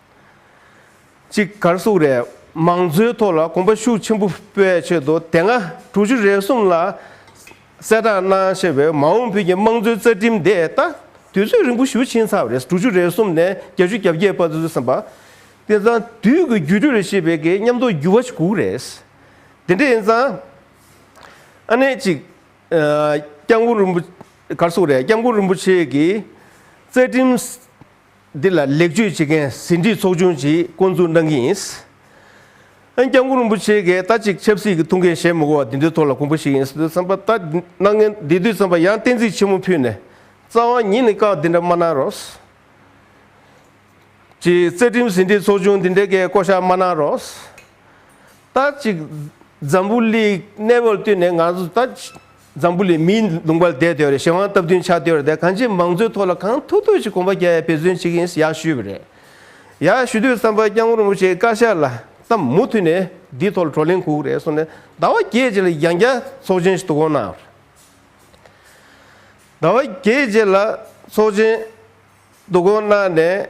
གཅིག་གར་གཟུགས་རེས་མང་བཟོའི་ཐོག་ལ་གོམ་པ་ཤུགས་ཆེན་པོ་སྤོས་ཆེད་དུ་དེ་སྔ་དྲུག་ཅུ་རེ་གསུམ་ལ་གསལ་བསྒྲགས་གནང་ཞེས་པའི་མ་འོངས་བོད་ཀྱི་དམངས་གཙོའི་རྩ་ཁྲིམས་དེ་ད་དུས་ཚོད་རིང་པོ་ཞུ་ཕྱིན་ཚར་བ་རེད་དྲུག་ཅུ་རེ་གསུམ་ནས་བརྒྱད་ཅུ་གྱ་བརྒྱད་བར་བཟོས་ཟིན་པ་དེ་ཚང་དུས་ཀྱི་བརྒྱུད་སྤྲོད་རེད་ཞེས་པའི་གི་ཉམས་རྟོགས་འགྱུར་བ་ཞིག་གུག་རེད། དེ་འདྲ་ཡིན་ཙང་ཨ་ནེ་གཅིག་སྐྱབས་མགོན་རིན་པོ་གར་གཟུགས་རེས་སྐྱབས་མགོན་རིན་པོ་ཆེ་གིས་རྩ་ཁྲིམས་འདི་ལ་ལེགས་བཅོས་བྱེད་མཁན་ཟིན་བྲིས་ཚོགས་ཆུང་ཞིག་བསྐོ་འཛུགས་གནང་གི་ཡིན། ཨན་སྐྱབས་མགོན་རིན་པོ་ཆེའི་གས་ལྟ་གཅིག་ཆབ་སྲིད་ཀྱི་ཐུགས་འགན་བཞེས་མི་དགོས་པ་འདི་འདུས་ཐོག་ལ་གོང་བུ་ཞིག་ཡིན་སྲིད་བསམ་པ་ལྟ། སྣང་ངན་འདི་དུས་བསམ་པ་ཡང་གཏན་ཚིགས་ཆེན་མོ་ཕུད་ནས་རྩ་བ་ཉིད་ནས་བཀག་འདི་འདྲ་མ་གནང་རོགས། གཅིག་རྩ་ཁྲིམས་ཟིན་བྲིས་ཚོགས་ཆུང་འདི་འདྲའི་གས་བསྐོ་བཞག་མ་གནང་རོགས། ལྟ་གཅིག་འཛམ་བུ་གླིག་གནས་བབ་བསྟུན་ནས་ང་ཚོ་ལྟ། འཛམ་བུ་ལས་མིའི་ལུང་པར་བསྡད་དོན་རེད་ཞེ་དབང་སྟབས་བསྟུན་ཆགས་དོན་རེད་གང་ཅིའི་མང་གཙོའི་ཐོག་ལ་གང་ཐུབ་ཐུབ་ཅིག་གོམ་པ་རྒྱ་ཡས་འབད་བརྩོན་བྱེད་ཀྱི་ཡིན་ཡག་ཞུས་པ་རེད་ཡག་ཞུ་དུས་བསམ་པ་རྐྱང་ངོར་མོ་ཆེ་བཀའ་ཤག་ལ་བསམ་མུ་མཐུད་ནས་འདིའི་ཐོག་ལ་བགྲོ་གླེང་ཁུག་རེད་གསུངས་ནས་ཟླ་བ་བརྒྱད་རྗེས་ལ་ཡང་བསྐྱར་ཚོགས་ཆེན་ཞིག་ཏུ་བསྐོང་གནང་ཟླ་བ་བརྒྱད་རྗེས་ལ་ཚོགས་ཆེན་ཏུ་བསྐོང་གནང་ནས།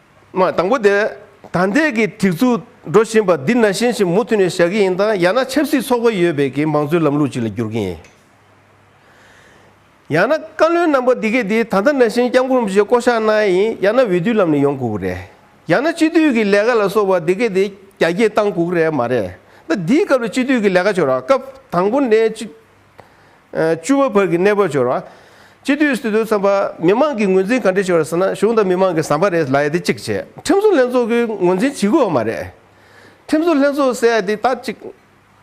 དང་པོ་དེ། ད་ལྟའི་གི་སྒྲིག་འཛུགས་འགྲོ་བཞིན་པ་འདི་ན་ཞེན་ཞིག་མུ་མཐུད་ནས་བཞག་གི་ཡིན་དང་ཡང་ན་ཆབ་སྲིད་ཚོགས་པ་ཡོད་པའི་གི་མང་གཙོའི་ལམ་ལུགས་ཅིག་ལ་འགྱུར་གྱིན་ཡིན། ཡང་ན་བཀའ་བློན་རྣམ་པ་འདི་གས་འདི་ད་ལྟ་ན་ཞེན་སྐྱབས་མགོན་རིན་པོ་ཆེ་བསྐོ་གཞག་གནང་ཡ་ཡིན་ཡང་ན་འོས་བསྡུའི་ལམ་ནས་ཡོང་དགོས་ཀྱི་རེད། ཡང་ན་སྤྱི་མཐུས་ཀྱི་ལས་ཀ་ལ་སོགས་པ་འདི་གས་འདི་རྒྱ་སྐྱེད་བཏང་དགོས་ཀྱི་རེད་མ་རེད། ད་འདིའི་སྐབས་ལ་སྤྱི་མཐུས་ཀྱི་ལས་ཀ་བྱོས་རོགས་སྐབས་དང་པོ་ནས་སྤྱི། བཅུ་བ་བར་གྱི་གནས་བབ་འཆོར་བ། སྤྱི་འཐུས་སུ་དོན་ཚན་པ། མི་མང་གི་ངོས་འཛིན་ག་འདྲས་ཤོར་ཟེར་ན་གཞུང་དང་མི་མང་གི་ཟམ་པ་རེད་ལ་ཡ་དེ་གཅིག་བྱས། ཁྲིམས་བཟོ་ལྷན་ཚོགས་ཀྱི་ངོས་འཛིན་བྱེད་དགོས་བ་མ་རེད། ཁྲིམས་བཟོ་ལྷན་ཚོགས་ཟེར་ཡ་དེ་དག་གཅིག།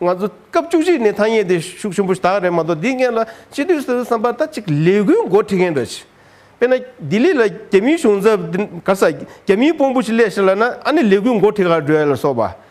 ང་ཚོ་སྐབས་བཅུ་གཅིག་ནས་ཐ་སྙད་དེ་ཤུགས་ཆེན་པོ་དག་རེད་མ་གཏོགས་འདི་ངན་ལ་སྤྱི་འཐུས་སུ་དོན་ཚན་པ་ད་ཅིག་ལས་འགུལ་མགོ་ཁྲིད་མཁན་འདྲ་ཆེ། དཔེར་ན་ལྡི་ལི་ལ་རྒྱ་མིའི་གཞུང་ཚབ་དེ་ག་ས་རྒྱ་མིའི་དཔོང་པོ་ཞིག་སླེབས་ཤིག་ལ་ན་ཨ་ནི་ལས་འགུལ་མགོ་ཁྲིད་ག་རེ་འགྲོ་ཡ་ལ་སོགས་པ་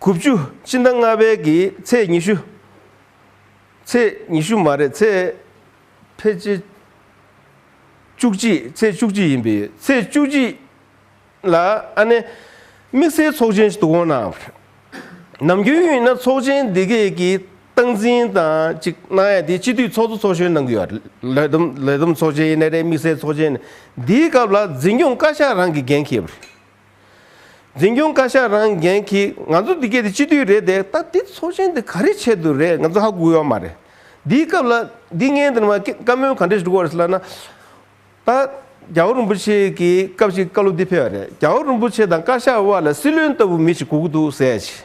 དགུ་བཅུ་གཅིག་ཟླ་ལྔ་པའི་གི་ཚེས་ཉི་ཤུ། ཚེས་ཉི་ཤུ་མ་རེད་ཚེས་ཕལ་ཆེར་བཅུ་གཅིག་ཚེས་བཅུ་གཅིག་ཡིན་པས་ཚེས་བཅུ་གཅིག་ལ་ཨ་ནེ་དམིགས་བསལ་ཚོགས་ཆེན་ཞིག་ཏུ་འོང་ན་ནམ་རྒྱུན་ཡིན་ན་ཚོགས་ཆེན་འདི་གས་ཀྱི་སྟངས་འཛིན་དང་ཅིག་གནང་ཡ་དེ་སྤྱི་འཐུས་ཚོགས་གཙོ་ཚོགས་གཞོན་གནང་གི་ཡོད་ལས་བསྡོམས་ལས་བསྡོམས་ཚོགས་ཆེན་ཡིན་ན་རེད་དམིགས་བསལ་ཚོགས་ཆེན་འདིའི་སྐབས་ལ་འཛིན་སྐྱོང་བཀའ་ཤག་རང་གིས་འགན་འཁྱེར། འཛིན་སྐྱོང་བཀའ་ཤག་རང་འགན་གྱིས་ང་ཚོ་འདི་སྐད་དེ་སྤྱི་འཐུས་རེད་དེ་ད་འདི་ཚོགས་ཆེན་འདི་ག་རེ་ཆེད་དུ་རེད་ང་ཚོ་ཧ་གོ་ཡོད་མ་རེད། འདིའི་སྐབས་ལ་འདི་ངས་འདི་ནས་མ་བཀའ་མོལ་ག་འདྲས་ཞིག་འགྲོ་བ་རེད་ལབ་ན། ད་རྒྱ་བོ་རིན་པོ་ཆེ་གི་སྐབས་ཤིག་བཀའ་སློབ་འདི་ཕེལ་བ་རེད་རྒྱ་བོ་རིན་པོ་ཆེ་དང་བཀའ་ཤག་དབར་ལ་སྲིད་བློན་ལྟ་བུ་མི་ཞིག་གོ་གི་འདུག་ཟེར་ཡ་ཆེ།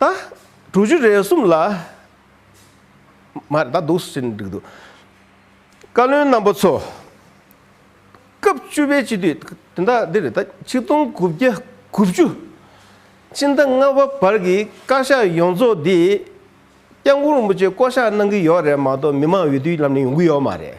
ད། གྲུ་བཞི་རེ་གསུམ་ལ། མ་རེད་ད་འདུག་ཟེར་ནས་འགྲིག་འདུག། བཀའ་བློན་རྣམ་པ་ཚོ། སྐབས་བཅུ་པའི་སྤྱི་འཐུས་དེ་འདྲ་འདི་རེད་ད་ཆིག་སྟོང་དགུ་བརྒྱ་དགུ་བཅུ། སྤྱི་ཟླ་ལྔ་བ་བར་གྱི་བཀའ་ཤག་ཡོངས་རྫོགས་འདི། སྐྱབས་མགོན་རིན་པོ་ཆེ་བསྐོ་གཞག་གནང་གི་ཡོད་རེད་མ་གཏོགས་མི་མང་འོས་བསྡུའི་ལམ་ནས་ཡོང་གི་ཡོད་མ་རེད།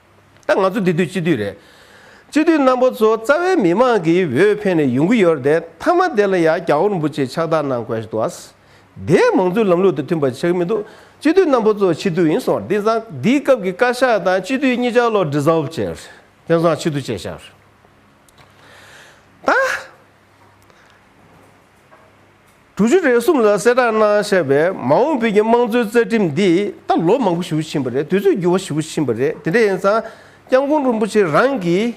ད་ང་ཚོ་དེ་དུས་སྤྱི་འཐུས་རེད། སྤྱི་འཐུས་རྣམ་པ་ཚོ་རྩ་བའི་མི་མང་གིས་འོས་འཕེན་ནས་ཡོང་གི་ཡོད་རེད་དེ་མཐའ་མ་དེ་ལ་ཡང་གྱ་བོར་འབུ་ཆེ་ཆགས་དག་གནང་དགོས་འདུག་ཨཱ། དེ་མང་གཙོའི་ལམ་ལུགས་དང་མཐུན་པ་བྱེད་ཀྱི་མི་འདུག་སྤྱི་འཐུས་རྣམ་པ་ཚོ་ཕྱི་སྡོད་ཡིན་སོང་དེང་སང་དེའི་སྐབས་ཀྱི་བཀའ་ཤག་དང་སྤྱི་འཐུས་གཉིས་ཆ་ལོག Dissolve བྱས་རེད་དེང་སང་ཕྱི་སྡོད་བྱས་ཤག་རེད་ད། གྲུ་བཞི་རེ་གསུམ་ལ་གསལ་བསྒྲགས་གནང་བཤད་པས་མ་འོངས་བོད་ཀྱི་དམངས་གཙོའི་རྩ་ཁྲིམས་འདིས་ད་ལོ་མང་པོ་ཞུ་ཕྱིན་པ་རེད་དུས་ཚོད་འགྱུར་བ་ཞུ་ཕྱིན་པ་རེད་དེ་འདྲ་ཡིན་ཙང ྋསྐྱབས་མགོན་རིན་པོ་ཆེ་རང་གིས་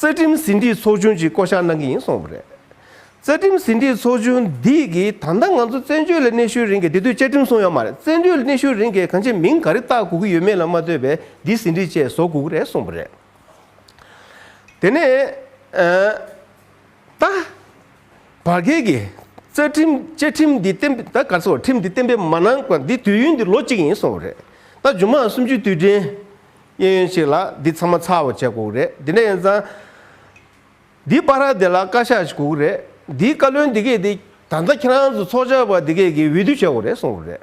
རྩ་ཁྲིམས་ཟིན་བྲིས་ཚོགས་ཆུང་ཅིག་བསྐོ་གཞག་གནང་གི་ཡིན་གསུངས་པ་རེད། རྩ་ཁྲིམས་ཟིན་བྲིས་ཚོགས་ཆུང་འདི་གིས་ད་ལྟ་ང་ཚོ་བཙན་བྱོལ་ལ་གནས་ཤུལ་རིང་གི་དེ་དུས་བཅའ་ཁྲིམས་བཟུང་ཡོད་མ་རེད་བཙན་བྱོལ་ལ་གནས་ཤུལ་རིང་གི་གང་ཆེ་མིང་ག་རེ་བཏགས་དགོས་ཀྱི་ཡོད་མེད་ལ་མ་ལྟོས་པའི་འདི་ཟིན་བྲིས་བཅས་བཟོ་དགོས་ཀྱི་རེད་གསུངས་པ་རེད། དེ་ནས། ད་བར་བརྒལ་གྱི་རྩ་ཁྲིམས་བཅས་ཁྲིམས་འདི་བརྟན་པོས་ད་བར་སོ་ཁྲིམས་འདི་བརྟན་པོས་མ་གནང་སྐབས་འདི་དུས་ཡུན་འདི་ལོ་གཅིག་ཡིན་སོང་བ་རེད། ད་ཇོ་མང་སུམ་ཅུའི་དུས་དྲན་གཡས་གཡོན་ཞིག་ལ་འདི་ཚང་མ་ཚར་བ་བྱས་དགོས་རེད་དེ་འདྲ་ཡིན་ཙང། འདི་པ་ར་འདི་ལ་བཀའ་ཤག་ཞིག་དགོས་རེད་འདིའི་བཀའ་བློན་འདི་གས་འདི་ད་ལྟ་ཁྱེད་རང་ཚོ་ཚོགས་བཅར་བ་འདི་གས་ཀྱི་འོས་བསྡུ་བྱས་དགོས་རེད་སོང་བ་རེད།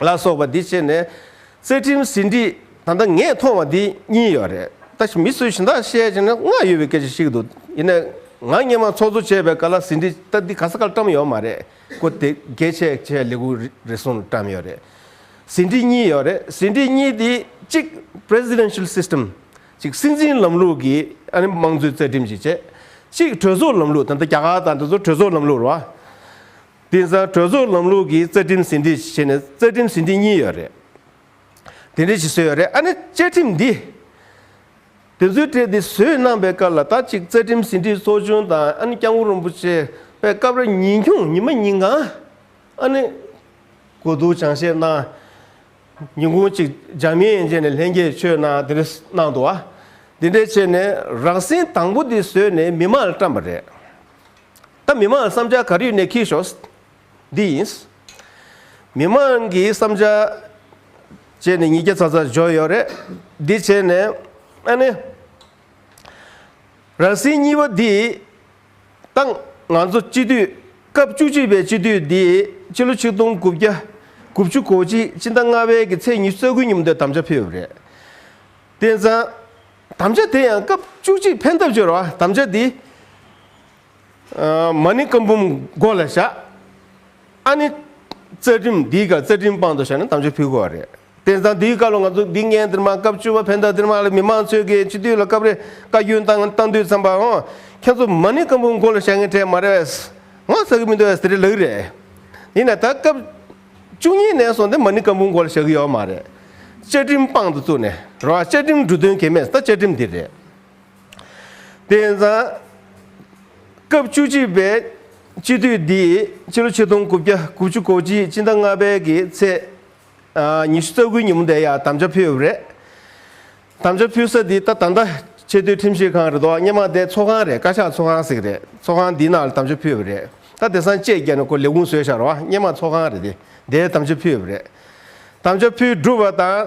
ལ་སོགས་པ་འདི་བྱས་ནས། བརྩེ་ཁྲིམས་ཟིན་བྲིས་ད་ལྟ་ངས་མཐོང་བ་འདི་གཉིས་ཡོད་རེད། ད་བཞིན་མི་སུས་བཞིན་ད་བཤད་བྱས་ན་བསྔགས་ཡོད་པའི་སྐད་ཆ་ཞིག་འདུག་ཡིན་ནའི། ང་སྙན་མ་ཚོགས་གཙོ་བྱས་པའི་སྐབས་ལ་ཟིན་བྲིས་ད་འདི་ག་ས་གར་བཀྲམས་ཡོད་མ་རེད་ཀོ། དེ་གས་ཆད་བྱས་ལེགས་འུར་རེ་ཟུང་བཀྲམས་ཡོད་རེད། ཟིན་བྲིས་གཉིས་ཡོད་རེད་ཟིན་བྲིས་གཉིས་དེ་གཅིག Presidential System གཅིག་སྲིད་འཛིན་ལམ་ལུགས་ཀྱི་ཨ་ནི་དམངས་གཙོའི་བརྩེ་ཁྲིམས་ཀྱི་བྱས། གཅིག་གྲོས་ཚོགས་ལམ་ལུགས་ད་ལྟ་རྒྱ་གར་དང་འདི་ཚོ་གྲོས་ཚོགས་ལམ་ལུགས་རེད་བ། དེང་སང་གྲོས་ཚོགས་ལམ་ལུགས་ཀྱི་རྩ་ཁྲིམས་ཟིན་བྲིས་བྱས་ནས་རྩ་ཁྲིམས་ཟིན་བྲིས་གཉིས་ཡོད་རེད། དེ་འདྲ་ཞིག་བཟོས་ཡོད་རེད་ཨ་ནི་བཅའ་ཁྲིམས་འདི། དེ་ཚོའི་གྲས་འདི་བཟོས་གནང་པའི་སྐབས་ལ་ད་གཅིག་རྩ་ཁྲིམས་ཟིན་བྲིས་ཚོགས་ཆུང་དང་ཨ་ནི་སྐྱབས་མགོན་རིན་པོ་ཆེ་པའི་སྐབས་རེ་ཉིན་ཁྱུང་ཉི་མ་ཉིན་གང་ཨ་ནི་གོ་བསྡུར་སྦྱང་བཤད་གནང། ཉིན་གུང་གཅིག་ལྗགས་མི་ཡན་ཆད་ནས་ལྷན་རྒྱས་ཆོས་གནང་དེ་འདྲ་གནང་འདུག་ཨ། དེ་འདྲ་བྱས་ནས་རགས་ཟིན་དང་པོ་འདི་བཟོས་ནས་མི་མང་ལ་བཀྲམས་པ་རེད། ད་མི་མང་བསམ་འཆར་ག་རེ་ཡོད་ནས་ཁྱེར་ཤོག། འདི་ཡིན། མི་མང་གི་བསམ་འཆར་བྱས་ནས་ཉིས་བརྒྱ་ཚ་ཚ་འཇོག་ཡོད་རེད། འདི་བྱས་ནས་ཨ་ནེ། རང་སྲིད་གཉིས་པ་འདི་བཏང། ང་ཚོ་སྤྱི་འཐུས་སྐབས་བཅུ་གཅིག་པའི་སྤྱི་འཐུས་འདི་སྤྱི་ལོ་ཆིག་སྟོང་དགུ་བརྒྱ་དགུ་བཅུ་གོ་གཅིག་སྤྱི་ཟླ་ལྔ་བའི་གི་ཚེས་ཉི་ཤུ་རྩ་དགུའི་ཉིན་འདིར་དམ་བཅའ་ཕུལ་ཡོད་རེད། དེང་སང་དམ་བཅའ་དེ་ཡང་སྐབས་བཅུ་གཅིག་ཕན་ཐབས་གཅོད་རོགས་ཨ་དམ་བཅའ་འདི། མ་ནི་བཀའ་འབུམ་མགོ་ལ་བཞག། ཨ་ནི་རྩ་ཁྲིམས་འདིའི་བཀའ་རྩ་ཁྲིམས་དཔང་དུ་བཞག་ནས་དམ་ཆོས་ཕུལ་དགོས་བ་རེད། དེང་སང་འདིའི་བཀའ་ལོ་ང་ཚོ་འདི་ངའི་འདིར་མ་སྐབས་བཅུ་བ་བྷན་དྷ་འདིར་མ་ལ་མི་མང་ཚོས་ཀྱི་སྤྱི་འཐུས་ལ་སྐབས་རེ་བཀའ་བཀྱོན་བཏང་བཏང་དུས་བསམ་པའོ། ཁྱེད་ཚོ་མ་ནི་བཀའ་འབུམ་མགོ་ལ་བཞག་ངེས་གྲས་མ་རེད་བས། ང་ཟ་གི་མི་འདུག་བས་ཟེར་གྱི་ལགས་རེད། ཡིན་ན་ད་སྐབས་བཅུ་གཉིས་ནས་བཟུང་སྟེ་མ་ནི་བཀའ་འབུམ་མགོ་ལ་བཞག་གི་ཡོད་མ་རེད། བཅའ་ཁྲིམས་དཔང་དུ་བཙུགས་ནས་རོགས་བཅའ་ཁྲིམས་འབྲུ་དོན་གལ་མེད་ས་བཅའ་ཁྲིམས་འདི་རེད། དེ་ཡིན་ཙང། སྐབས་བཅུ་གཅིག་པའི་སྤྱི་འཐུས་འདིས་ཕྱི་ལོ་ཆིག་སྟོང་དགུ་བརྒྱ་དགུ་བཅུ་གོ་གཅིག་སྤྱི་ཟླ་ལྔ་པའི་གི་ཚེས་ཉི་ཤུ་རྩ་དགུའི་ཉིན་མོ་འདི་ཡང་དམ་བཅའ་ཕུལ་ཡོད་པ་རེད། དམ་བཅའ་ཕུལ་ས་འདི་ད་ད་ལྟ་ཆེས་མཐོའི་ཁྲིམས་ཞིབ་ཁང་རེད་དོ་སྙེ་མ་དེ་ཚོགས་ཁང་རེད་བཀའ་ཤག་ཚོགས་ཁང་ཟིག་རེད་ཚོགས་ཁང་འདིའི་ནང་ལ་དམ་བཅའ་ཕུལ་ཡོད་པ་རེད་ད་དེ་སང་བཅད་རྒྱ་ནས་ཁོ་ལས་ཁུངས་བཟོས་ཤག་རོགས་སྙེ་མ་ཚོགས་ཁང་རེད་དེ་འདའི་དམ་བཅའ་ཕུལ་ཡོད་པ་རེད། དམ་བཅའ་ཕུལ་བསྒྲུབས་པ་དང།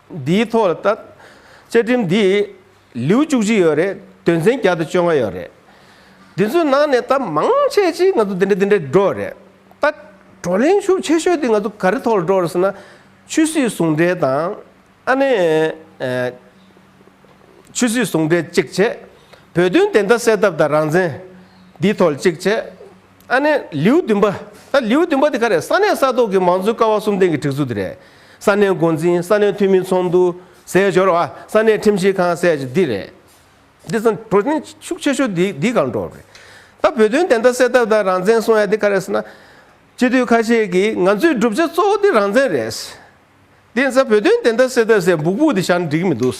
འདིའི་ཐོག་ལ་བལྟ། བཅའ་ཁྲིམས་འདི། ལེའུ་བཅུ་གཅིག་ཡོད་རེད། དོན་ཚན་བརྒྱ་དང་བཅོ་ལྔ་ཡོད་རེད། འདི་ཚོའི་ནང་ནས་ད་མང་ཆེ་ཆེ་ང་ཚོ་འདི་འདྲ་འདི་འདྲ་འགྲོ་བ་རེད། ད་བགྲོ་གླེང་ཤུགས་ཆེ་ཤོས་དེ་ང་ཚོ་ག་རེ་ཐོག་ལ་འགྲོ་བ་རེད་ཟེར་ན། ཆོས་སྲིད་ཟུང་འབྲེལ་དང། ཨ་ནེ། ཆོས་སྲིད་ཟུང་འབྲེལ་གཅིག་བྱས། བོད་དོན་བདེན་མཐའ་གསལ་ཐབས་དང་རང་བཙན། འདིའི་ཐོག་ལ་གཅིག་བྱས། ཨ་ནེ། ལེའུ་བདུན་པ། ད་ལེའུ་བདུན་པ་དེ་ག་རེད་ས་གནས་ས་ཐོག་གི་མང་གཙོའི་ཀ་བ་གསུམ་ལྡན་གྱི་སྒྲིག་འཛུགས་དེ་རེད། ས་གནས་འགོ་འཛིན་ས་གནས་འཐུས་མི་ཚོགས་འདུ། ཟས་སྦྱོར་བ་ས་གནས་ཁྲིམས་ཞིབ་ཁང་ཟས་སྦྱོར་འདི་རེད། འདི་ཚང་བྲོ་ཆེན་ཤུགས་ཆེ་ཤོས་འདི་འདིའི་གང་འགྲོ་རེད། ད་བོད་དོན་བདེན་མཐའ་གསལ་ཐབས་དང་རང་བཙན་སྲུང་ཡ་དེ་ག་རེད་ཟེར་ན། སྤྱི་འཐུས་ཁ་ཤས་ཀྱིས་ང་ཚོའི་བསྒྲུབ་བྱ་གཙོ་བོ་དེ་རང་བཙན་རེད། དེ་ཚང་བོད་དོན་བདེན་མཐའ་གསལ་ཐབས་ཟེར་འབུག་འབུག་དེ་བཞག་ན་འགྲིག་གི་མི་འདུག།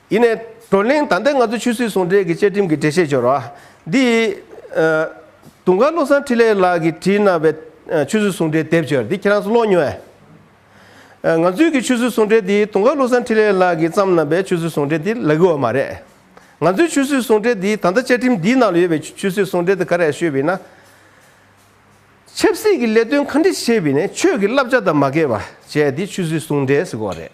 ཡིན། བགྲོ་གླེང་དང་ལྡན་ང་ཚོས་ཆུ་ཟོས་ཟུང་འབྲེལ་གྱི་བཅའ་ཁྲིམས་ཀྱི་འགྲེལ་བཤད་འབྱོར་བ། འདི། དུང་དཀར་བློ་བཟང་འཕྲིན་ལས་ལགས་ཀྱིས་བྲིས་གནང་བའི་ཆུ་ཟོས་ཟུང་འབྲེལ་དེབ་སྐྱོར་འདི་ཁྱེད་རང་ཚོ་ཀློག་མྱོང་ཨེ། ང་ཚོའི་གི་ཆུ་ཟོས་ཟུང་འབྲེལ་འདི་དུང་དཀར་བློ་བཟང་འཕྲིན་ལས་ལགས་ཀྱིས་བརྩམས་གནང་བའི་ཆུ་ཟོས་ཟུང་འབྲེལ་འདི་ལ་གི་བ་མ་རེད། ང་ཚོའི་ཆུ་ཟོས་ཟུང་འབྲེལ་འདི་ད་ལྟ་བཅའ་ཁྲིམས་འདིའི་ནང་ལ་ཡོད་པའི་ཆུ་ཟོས་ཟུང་འབྲེལ་དེ་ག་རེ་ཡང་ཤོད་བས་ན། ཆབ་སྲིད་ཀྱི་ལས་དོན་གང་འདྲི་བྱེད་པའི་ནས་ཆོས་ཀྱི་བསླབ་བྱ་དང་མ་འགལ་བ་བྱས་དེ་ཆུད་ཟོས་ཟུང་འབྲེལ་ཟེར་གོ་རེད།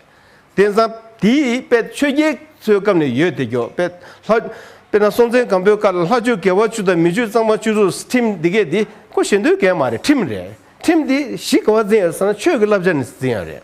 དེང་སང་དེ་དཔལ་ཆོས་རྒྱལ་ཚོའི་སྐབས་ནས་ཡོད་དེ་གྱོ། དཔེར་ན་སྲོང་བཙན་སྒམ་པོའི་སྐབས་ལ་ལྷ་ཆོས་དགེ་བ་བཅུ་དང་མི་ཆོས་གཙང་མ་བཅུ་རུ་ཁྲིམས་འདི་གས་འདི་གོ་ཞེས་འདོད་གས་མ་རེད་ཁྲིམས་རེད་ཁྲིམས་འདི་གཞི་ག་བ་འཛིན་ཡོད་ཟེར་ན་ཆོས་ཀྱི་བསླབ་བྱ་ནས་འཛིན་ཡོད་རེད།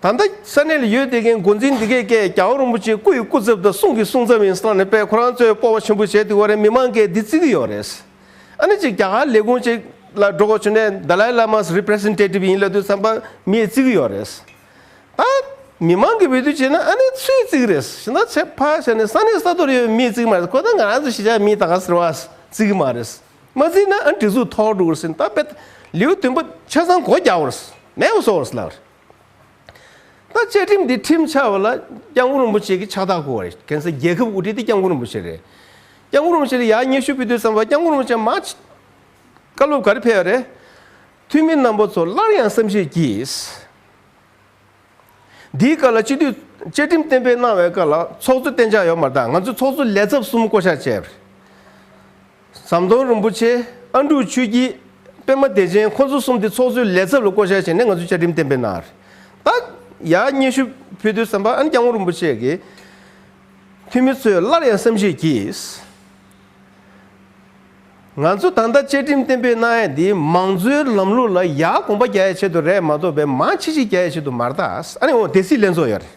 ད་ལྟ་ས་གནས་ལ་ཡོད་བསྡད་མཁན་འགོ་འཛིན་འདི་གས་ཀྱེ་རྒྱ་བོ་རིན་པོ་ཆེའི་སྐུ་ཡི་སྐུ་ཚབ་དང་གསུང་གི་གསུང་ཚབ་ཡིན་བསམ་ནས་པས་ཁོ་རང་ཚོའི་སྤོབས་པ་ཆེན་པོ་བྱས་འདུག་བ་རེད་མི་མང་གས་འདི་བརྩི་གི་ཡོད་རེད། ཨ་ནི་ཅིག་རྒྱ་གར་ལས་ཁུངས་ཅིག་ལ་འགྲོ་དགོས་བྱུང་ནས Dalai Lama's Representative ཡིན་ལབ་དུས་བསམ་པ་མིས་བརྩི་གི་ཡོད་རེད། ད་མི་མང་གིས་འབོད་དུས་བྱས་ན་ཨ་ནི་སུས་བརྩི་གི་རེད་ཞེ་ན་ཚེ་ཕ་ཞེས་ནས་ས་གནས་ས་ཐོག་ལ་ཡོད་པའི་མིས་བརྩི་གི་མ་རེད་ཁོ་ད་ང་རང་ཚོ་གཞིས་ཆགས་མིས་ད་ག་ཟེར་བ་བརྩི་གི་མ་རེད། མ་བརྩི་ན་ཨ་ནི་སྒྲིག་འཛུགས་ཐོག་འགྲོ་དགོས་རེད་ཟེར་ནས་ད་པས་ལེའུ་བདུན་པ་ཆ་ཚང་གོ་རྒྱག་བ་རེད་མེད་བ་བཟོ་བ་རེད་ལབ་རེད། ད་བཅའ་ཁྲིམས་འདི་ཁྲིམས་འཆར་བ་ལ་སྐྱབས་མགོན་རིན་པོ་ཆེ་གིས་ཕྱག་རྟགས་བསྐུར་བ་རེད་གན་ས་རྒྱལ་ཁབ་དབུ་ཁྲིད་དེ་སྐྱབས་མགོན་རིན་པོ་ཆེ་རེད། སྐྱབས་མགོན་རིན་པོ་ཆེ་ལ་ཡག་སྙན་ཞུ་ཕུལ་དུས་བསམ་པ་སྐྱབས་མགོན་རིན་པོ་ཆེ་མ་བྱས། བཀའ་སློབ་ག་རེ་ཕེལ་བ་རེད། འཐུས་མི་རྣམ་པ་ཚོ་སླར་ཡང་བསམ་ཤེས་ཀྱིས། འདིའི་བཀའ་ལ་སྤྱི་འཐུས་བཅའ་ཁྲིམས་གཏན་འབེབས་གནང་བའི་བཀའ་ལ་ཚོགས་གཙོས་གཏན་འཇགས་ཡོག་མ་རྟགས་ང་ཚོས་ཚོགས་གཙོ་ལས་ཚབ་གསུམ་བསྐོ་བཞག་བྱས། ཟམ་གདོང་རིན་པོ་ཆེ་ཨ་འབྲུག་ཆུས་ཀྱིས་པད་མ་བདེ་ཆེན་ཁོ་ཚོ་གསུམ་དེ་ཚོགས་གཙོའི་ལས་ཚབ་ལ་བསྐོ་བཞག་བྱས་ནས་ང་ཚོའི་བཅའ་ཁྲིམས་གཏན་འབེབས་གནང། རྟགས་ཡག་སྙན་ཞུ་ཕུལ་དུས་ཟམ་པ་ཨན་སྐྱ་བོ་རིན་པོ་ཆེ་གིས། འཐུས་མི་ཚོས་སླར་ཡང་བསམ་གཞིགས་ཀྱིས། ང་ཚོ་ད་ལྟ་བཅའ་ཁྲིམས་གཏན་འབེབས་གནང་ཡས་འདི་མང་གཙོའི་ལམ་ལུགས་ལ་ཡག་དགོངས་པ་རྒྱ་ཡས་ཆེད་དུ་རེད་མ་གཏོགས་པའི་མང་ཆེ་ཆེ་རྒྱ་ཡས་ཆེད་དུ་མ་རེད། ཨ་ནི་འོ་དེ་སྲིད་ལན་ཚོགས་ཡོད་རེད།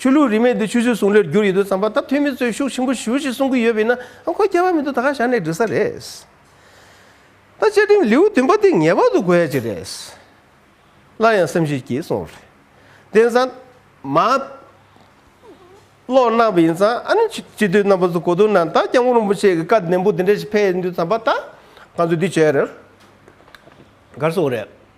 ཆོས་ལུགས་རིས་མེད་འདི་ཆུ་ཚོད་ཟུང་ལེར་འགྱུར་ཡོད་དུས་བསམ་པ་ད་ཐོན་མི་ཚོས་ཤུགས་ཆེན་པོ་ཞུ་ཞེས་གསུང་གི་ཡོད་པས་ན་ཨ་ཁོ་སྐྱལ་བ་མི་འདུག་ད་ག་ཞག་ནས་འབྲི་ས་རེད། ད་བཅའ་ཁྲིམས་ལེའུ་བདུན་པ་འདི་ངེས་པར་དུ་དགོས་ཡ་ཅིག་རེད། སླར་ཡང་སེམས་ཤུགས་སྐྱེས་སོང་རེད། དེང་སང། མ། ཀློག་གནང་བ་ཡིན་ཙང་ཨ་ནུ་སྤྱི་འཐུས་རྣམ་པ་ཚོ་གོ་དོན་ན་ད་སྐྱབས་མགོན་རིན་པོ་ཆེ་གི་བཀའ་ནན་པོ་འདི་འདྲ་ཞིག་ཕེབས་ཡོད་འདུག་བསམ་པ་ད་ང་ཚོ་འདི་བྱས་ཡོད་རེད། གར་སོང་རེད།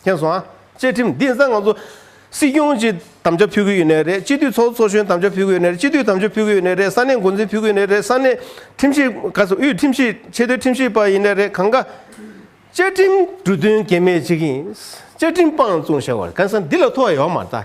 མཁྱེན་སོང་ཨ། བཅའ་ཁྲིམས་འདི་ནི་ང་ཚོ་སྲིད་སྐྱོང་གི་དམ་བཅའ་ཕུལ་གྱི་ཡོད་ནི་རེད་སྤྱི་འཐུས་ཚོགས་གཙོ་གཞོན་དམ་བཅའ་ཕུལ་གྱི་ཡོད་ནི་རེད་སྤྱི་འཐུས་དམ་བཅའ་ཕུལ་གྱི་ཡོད་ནི་རེད་ས་གནས་འགོ་འཛིན་ཕུལ་གྱི་ཡོད་ནི་རེད་ས་གནས་ཁྲིམས་ཞིབ་ཁ་ས་དབུས་ཁྲིམས་ཞིབ་ཆེས་མཐོའི་ཁྲིམས་ཞིབ་པ་ཡིན་ནི་རེད་གང་དགའ། བཅའ་ཁྲིམས་འབྲུ་དོན་གལ་མེད་ཅིག་ཡིན། བཅའ་ཁྲིམས་སྤང་བཙུགས་བྱ་བར་གན་ས་འདི་ལ་ཐོ་ཡོད་མ་རྟགས།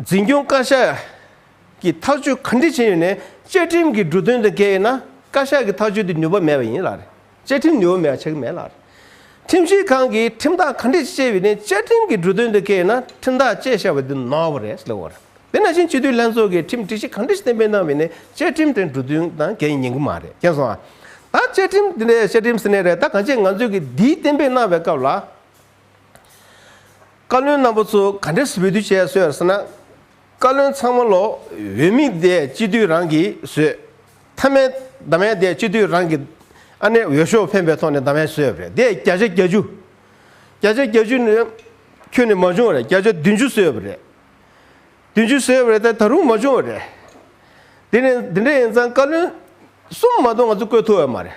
འཛིན་སྐྱོང་བཀའ་ཤག་གིས་ཐག་གཅོད་ག་འདྲི་བྱས་ཡོད་ནས་བཅའ་ཁྲིམས་ཀྱི་འབྲུ་དོན་དང་འགལ་ཡོད་ན་བཀའ་ཤག་གི་ཐག་གཅོད་དེ་ནུས་པ་མེད་པ་ཡིན་ལ། བཅའ་ཁྲིམས་ནུས་པ་མེད་པ་བྱེད་གི་མེད་ལ། ཁྲིམས་ཞིབ་ཁང་གིས་ཁྲིམས་ཐག་ག་འདྲི་བཅས་ཡོད་ནས་བཅའ་ཁྲིམས་ཀྱི་འབྲུ་དོན་དང་འགལ་ཡོད་ན་ཁྲིམས་ཐག་བཅད་བཞག་པ་དེ་ནོར་བ་རེད་ཟེར་བ་རེད། དེ་ནང་བཞིན་སྤྱི་འཐུས་ལྷན་ཚོགས་ཀྱིས་ཁྲིམས་སྒྲིག་གཞི་ག་འདྲི་གཏན་འབེབས་གནང་བའི་ནས་བཅའ་ཁྲིམས་དེ་འབྲུ་དོན་དང་འགལ་ཡིན་གི་མ་རེད་མཁྱེན་སོང་ཨ། ད་བཅའ་ཁྲིམས་དེ་འདྲའི་བཅའ་ཁྲིམས་ཟེར་ནས་རེད་ད་གང་ཅི་ང་ཚོས་ཀྱིས་འདིའི་གཏན་འབེབས་གནང་བའི་སྐབས་ལ་བཀའ་བློན་རྣམ་པ་ཚོ་ག་འདྲས་བཟོས་དུས་བྱས་སོས་ཟེར་ན། བཀའ་བློན་ཚང་མ་ལོག་འོས་མི་དེ་སྤྱི་འཐུས་རང་གིས་བཟོས། མཐའ་མའི་དར་མའི་དེ་སྤྱི་འཐུས་རང་གིས་ཨ་ནེ་འོས་ཤོག་འཕེན་པའི་ཐོག་ནས་དར་མའི་བཟོས་པ་རེད་དེ་བརྒྱ་ཆ་བརྒྱ་ཅུ། བརྒྱ་ཆ་བརྒྱ་ཅུ་ནི་ཁྱོད་ནས་མ་བྱུང་བ་རེད་བརྒྱ་ཆ་བདུན་ཅུ་བཟོས་པ་རེད། བདུན་ཅུ་བཟོས་པ་རེད་དེ་ད་རུང་མ་བྱུང་བ་རེད། དེ་ནི་འདི་འདྲ་ཡིན་ཙང་བཀའ་བློན་གསུམ་མ་གཏོགས་ང་ཚོས་བསྐོས་ཐུབ་ཡོད་མ་རེད།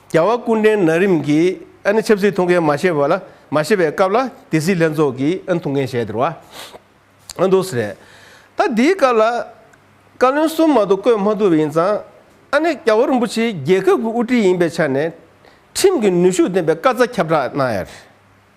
རྒྱལ་བ་ཀུན་འདྲེན་ན་རིམ་གྱིས་ཆབ་སྲིད་ཐུགས་འགན་མ་བཞེས་པ་ལ་མ་བཞེས་པའི་སྐབས་ལ་དེ་སྲིད་ལྷན་ཚོགས་ཀྱིས་ཐུགས་འགན་བཞེས་སྟེར་བ་འདུག་ཟེར། ད་འདིའི་སྐབས་ལ་བཀའ་བློན་གསུམ་མ་གཏོགས་བསྐོས་མ་ཐུབ་པ་ཡིན་ཙང། ཨ་ནེ་རྒྱལ་བ་རིན་པོ་ཆེ་རྒྱལ་ཁབ་ཀྱི་དབུ་ཁྲིད་ཡིན་པའི་ཆ་ནས། ཁྲིམས་ཀྱི་ནུས་ཤུགས་ལྡན་པའི་བཀའ་རྩ་ཁྱབ་བསྒྲགས་གནང་ཡ་རེད།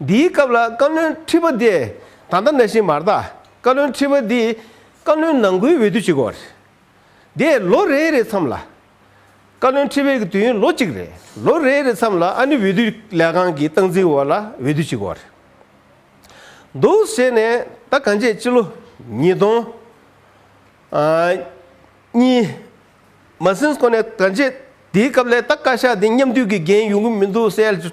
འདིའི་སྐབས་ལ་བཀའ་བློན་ཁྲི་པ་དེ་ད་ལྟ་ན་ཤིང་མར་དག་བཀའ་བློན་ཁྲི་པ་འདིས་བཀའ་བློན་ནང་ཁུལ་འོས་བསྡུ་བྱེད་དགོས་པ་རེད། དེས་ལོ་རེའི་རེའི་མཚམས་ལ། བཀའ་བློན་ཁྲི་པའི་དུས་ཡུན་ལོ་གཅིག་རེད་ལོ་རེའི་རེའི་མཚམས་ལ་ཨ་ནི་འོས་བསྡུ་ལས་ཁང་གི་སྟངས་འཛིན་འོག་ལ་འོས་བསྡུ་བྱེད་དགོས་པ་རེད། འདུག་ཟེར་ནས་ད་ག་འཇེད་སྤྱི་ལོ་ཉིས་སྟོང། གཉིས། མ་ཟིན་གོ་ནས་ག་འཇེད་དེའི་སྐབས་ལས་ད་བཀའ་ཤག་དེ་མཉམ་འདུས་ཀྱི་འགན་ཡོང་གི་མི་འདུག་གསལ།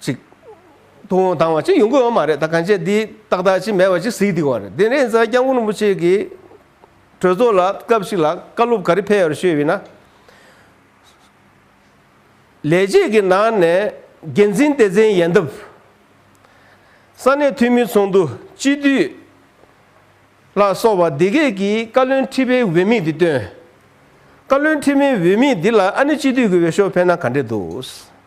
ཅིག། ཐུགས་དབང་དང་བ་ཅིག་ཡོང་གི་ཡོད་མ་རེད་ད་གང་བྱས་འདི་ཏག་ཏག་ཅིག་མེད་པ་ཅིག་གཟིགས་འདུག་བ་རེད་དེ་ནས་རྫ་སྐྱབས་མགོན་རིན་པོ་ཆེ་གིས། གྲོས་ཚོགས་ལ་སྐབས་ཤིག་ལ་བཀའ་སློབ་ག་རེ་ཕེབས་ཡོད་ཤོད་ཡོད་ན། ལས་བྱེད་ཀྱི་ནང་ནས་འགན་འཛིན་སྟེ་ཚན་ཡན་འདབ། ས་གནས་འཐུས་མི་ཚོགས་འདུ་སྤྱི་འཐུས། ལ་སོགས་པ་སྡེ་དགེ་གིས་བཀའ་བློན་ཁྲི་པའི་འོས་དམིགས་འདི་བཏོན། བཀའ་བློན་ཁྲི་མའི་འོས་དམིགས་འདི་ལ་ཨ་ནི་སྤྱི་འཐུས་ཀྱི་འོས་ཤོག་འཕེན་ན་ག་འདྲས་འདུག།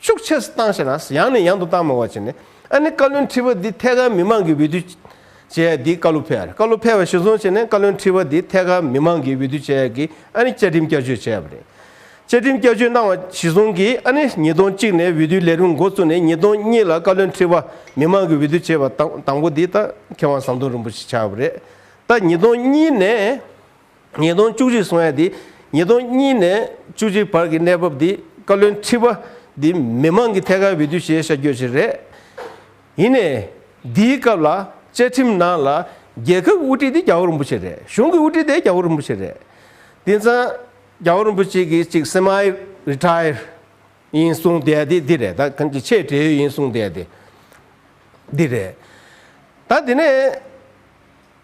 ཤུགས་ཆེ་སུ་བཏང་ཞེ་ན་ཡང་ནས་ཡང་དུ་བཏང་མི་བ་བྱས་ནས་ཨ་ནི་བཀའ་བློན་ཁྲི་པ་འདི་ཐད་ཀར་མི་མང་གི་འོས་བསྡུ་བྱས་ཡ་འདི་བཀའ་ལུ་ཕལ་བཀའ་ལུ་ཕལ་བ་ཞུ་སོང་བྱས་ནས་བཀའ་བློན་ཁྲི་པ་འདི་ཐད་ཀར་མི་མང་གི་འོས་བསྡུ་བྱས་ཡ་གི་ཨ་ནི་བཅའ་ཁྲིམས་བསྐྱར་བཅོས་བྱས་ཡ་པ་རེད་བཅའ་ཁྲིམས་བསྐྱར་བཅོས་གནང་བ་ཞུ་སོང་གི་ཨ་ནི་ཉིས་སྟོང་གཅིག་ནས་འོས་བསྡུའི་ལས་རིམ་འགོ་བཙུགས་ནས་ཉིས་སྟོང་གཉིས་ལ་བཀའ་བློན་ཁྲི་པ་མི་མང་གི་འོས་བསྡུ་བྱས་པ་དང་དང་པོ་འདི་ད་མཁས་དབང་ཟམ་གདོང་རིན་པོ་ཆེ་ཆགས་ཡ་པ་རེད་ད་ཉིས་སྟོང་གཉིས་ནས། ཉིས་སྟོང་བཅུ་གཅིག་སོང་ཡ་དེ་ཉིས་སྟོང་གཉིས་ནས་བཅུ་གཅིག་བར་གྱི་གནས་བབ་དེ་བཀའ་བློན་ཁྲི་པ་དེ་མི་མང་གི་ཐད་ཀར་འོས་བསྡུ་བྱེད་ཤ་འགྱོད་ཅིག་རེད། ཡིན་ནས། འདིའི་སྐབས་ལ་བཅའ་ཁྲིམས་ནང་ལ་རྒྱལ་ཁབ་ཀྱི་དབུ་ཁྲིད་དེ་རྒྱ་བོ་རིན་པོ་ཆེ་རེད་གཞུང་གི་དབུ་ཁྲིད་དེ་རྒྱ་བོ་རིན་པོ་ཆེ་རེད། དེང་སང་རྒྱ་བོ་རིན་པོ་ཆེ་གི་ཅིག Semi Retire ཡིན་གསུང་བསྡད་ཡ་དེ་འདི་རེད་ད་གང་གི་ཆེས་བྲེལ་ཡོད་ཡིན་གསུང་བསྡད་ཡ་དེ་འདི་རེད། ད་དེ་ནས་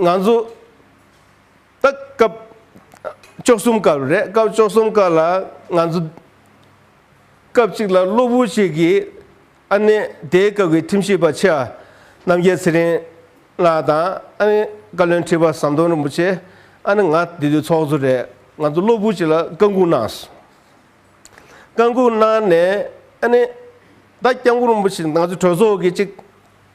ང་ཚོ། སྟག། སྐབས་བཅུ་གསུམ་ཀ་རེད། སྐབས་བཅུ་གསུམ་ཀ་ལ་ང་ཚོ། སྐབས་གཅིག་ལ་གློ་བུར་ཞིག་གིས་ཨ་ནེ་དེའི་སྐབས་ཀྱི་ཁྲིམས་ཞིབ་པ་ཆེ་བ་རྣམ་རྒྱལ་ཚེ་རིང་ལགས་དང་ཨ་ནེ་བཀའ་བློན་ཁྲི་པ་ཟམ་གདོང་རིན་པོ་ཆེ་ཨ་ནེ་ང་འདི་དུས་ཚོགས་གཙོ་རེད་ང་ཚོ་གློ་བུར་ཞིག་ལ་བཀའ་འགུག་གནང་སོང། བཀའ་འགུག་གནང་ནས་ཨ་ནེ་ད་སྐྱབས་མགོན་རིན་པོ་ཆེ་ང་ཚོ་གྲོས་ཚོགས་ཀྱི་གཅིག་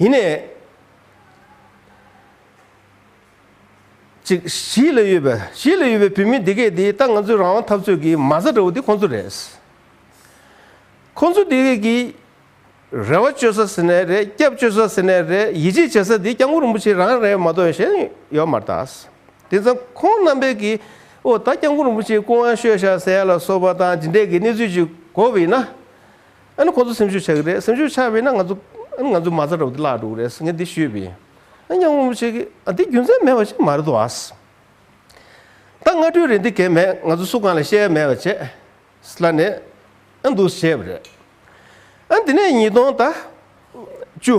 ཡིན་ནས། ཅིག། གཞིས་ལ་ཡོད་པའི་གཞིས་ལ་ཡོད་པའི་བོད་མི་འདི་གས་དེ་ད་ང་ཚོའི་རང་དབང་འཐབ་རྩོད་ཀྱི་མ་རྩ་འདྲ་བོ་དེ་ཁོང་ཚོ་རེད། ཁོང་ཚོ་འདི་གས་ཀྱི། རེ་བ་བཅོལ་ས་ཟེར་ནས་རེད་སྐྱབས་བཅོལ་ས་ཟེར་ནས་རེད་ཡིད་ཆེས་བྱེད་ས་དེ་སྐྱབས་མགོན་རིན་པོ་ཆེ་རང་རེད་མ་གཏོགས་གཞན་ཡོད་མ་རྟག། དེ་མཚམས་ཁོང་རྣམ་པས་ཀྱི་ཨོ་ད་སྐྱབས་མགོན་རིན་པོ་ཆེའི་སྐུ་དབང་ཤོད་བཞག་ཟེར་ཡ་ལ་སོགས་པ་དང་ཇི་འདྲས་ཀྱི་གནས་ཚུལ་ཅིག་གོ་བས་ན། ཨ་ནི་ཁོ་ཚོ་སེམས་ཤུགས་ཆག་གི་རེད་སེམས་ཤུགས་ཆག་བས་ན་ང་ཚོ་ཨ་ནི་ང་ཚོའི་མ་རྩ་ར་བུ་དེ་བརླག་འགྲོ་གི་རེད་ངས་འདི་ཤོད་པས་ཨ་ནི་ཡང་ངོ་མ་བྱེད་ཀི་ཨ་འདི་རྒྱུ་མཚན་མེད་པ་ཞིག་མ་རེད་དོ་ཨཱ། ད་སྔ་དྲོའི་རེ་འདི་གས་མེད་ང་ཚོ་སུ་གང་ལ་བཤད་ཡ་མེད་པ་བྱས། སླ་ནས་ཨ་འདུག་བྱས་པ་རེད་ཨ་འདི་ནས་ཉིས་སྟོང་ད། བཅུ།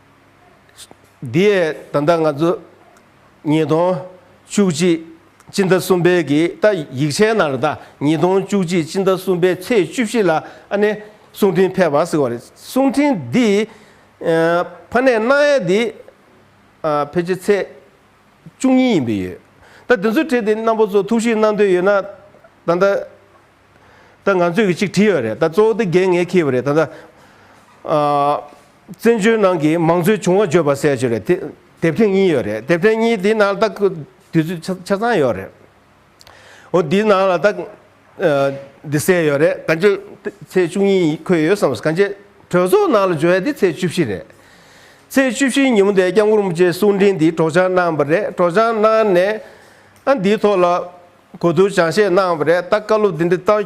འདི་ཡས་ད་ལྟ་ང་ཚོ་ཉིས་སྟོང་བཅུ་གཅིག་སྤྱི་ཟླ་གསུམ་པའི་གི་ད་ཡིག་ཆའི་ནང་རེད་ད་ཉིས་སྟོང་བཅུ་གཅིག་སྤྱི་ཟླ་གསུམ་པའི་ཚེས་བཅུ་བཞི་ལ་ཨ་ནེ་གསུང་འཕྲིན་ཕེབས་པ་ཟེར་བ་རེད་གསུང་འཕྲིན་འདི་ཕ་ནས་གནང་ཡས་འདི་ཕེབས་ཆེ་ཚེས་བཅུ་གཉིས་ཡིན་པའི་ཡོད་ད་དེ་ཚོའི་གྲས་དེ་རྣམ་པ་ཚོ་ཐུགས་ཞིབ་གནང་འདོད་ཡོད་ན་ད་ད་ད་ང་ཚོས་གི་གཅིག་བྲིས་ཡོད་རེད་ད་གཙོ་བོ་དེ་འགན་ངས་འཁྱེར་བ་རེད་ད་ད། བཙན་བྱོལ་ནང་གི་མང་གཙོའི་བྱུང་བ་བརྗོད་པ་གསལ་བྱེད་རེད། དེབ་ཐེངས་གཉིས་ཡོད་རེད། དེབ་ཐེངས་གཉིས་དེའི་ནང་ལ་ད་དུས་ཚོད་ཆ་ཚང་ཡོད་རེད། འོ་དེའི་ནང་ལ་ད་འདི་གསལ་ཡོད་རེད། གང་ཅེ་ཚེས་བཅུ་གཉིས་འཁོད་ཡོད་བསམ། གང་ཅེ་གྲོས་ཚོགས་ནང་ལ་བརྗོད་ཡ་དེ་ཚེས་བཅུ་བཞི་རེད། ཚེས་བཅུ་བཞི་ཉིན་མོ་དེ་སྐྱབས་མགོན་རིན་པོ་ཆེ་གསུང་འཕྲིན་འདི་སྒྲོག་སྦྱང་གནང་བ་རེད། སྒྲོག་སྦྱང་གནང་ནས་ཨ་འདིའི་ཐོག་ལ་གོ་བསྡུར་སྦྱང་བཤད་གནང་བ་རེད། ད་བཀའ་སློབ་འདི་འདི་ལྟར་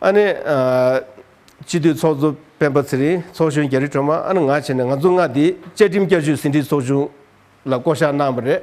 ཨ་ནེ། སྤྱི་འཐུས་ཚོགས་གཙོ་སྤེན་པ་ཚེ་རིང་ཚོགས་གཞོན་རྒྱ་རི་སྒྲོལ་མ་ཨ་ནེ་ང་བྱས་ནས་ང་ཚོ་མངའ་སྡེའི་བཅའ་ཁྲིམས་བསྐྱར་བཅོས་ཟིན་བྲིས་ཚོགས་ཆུང་ལ་བསྐོ་གཞག་གནང་བ་རེད།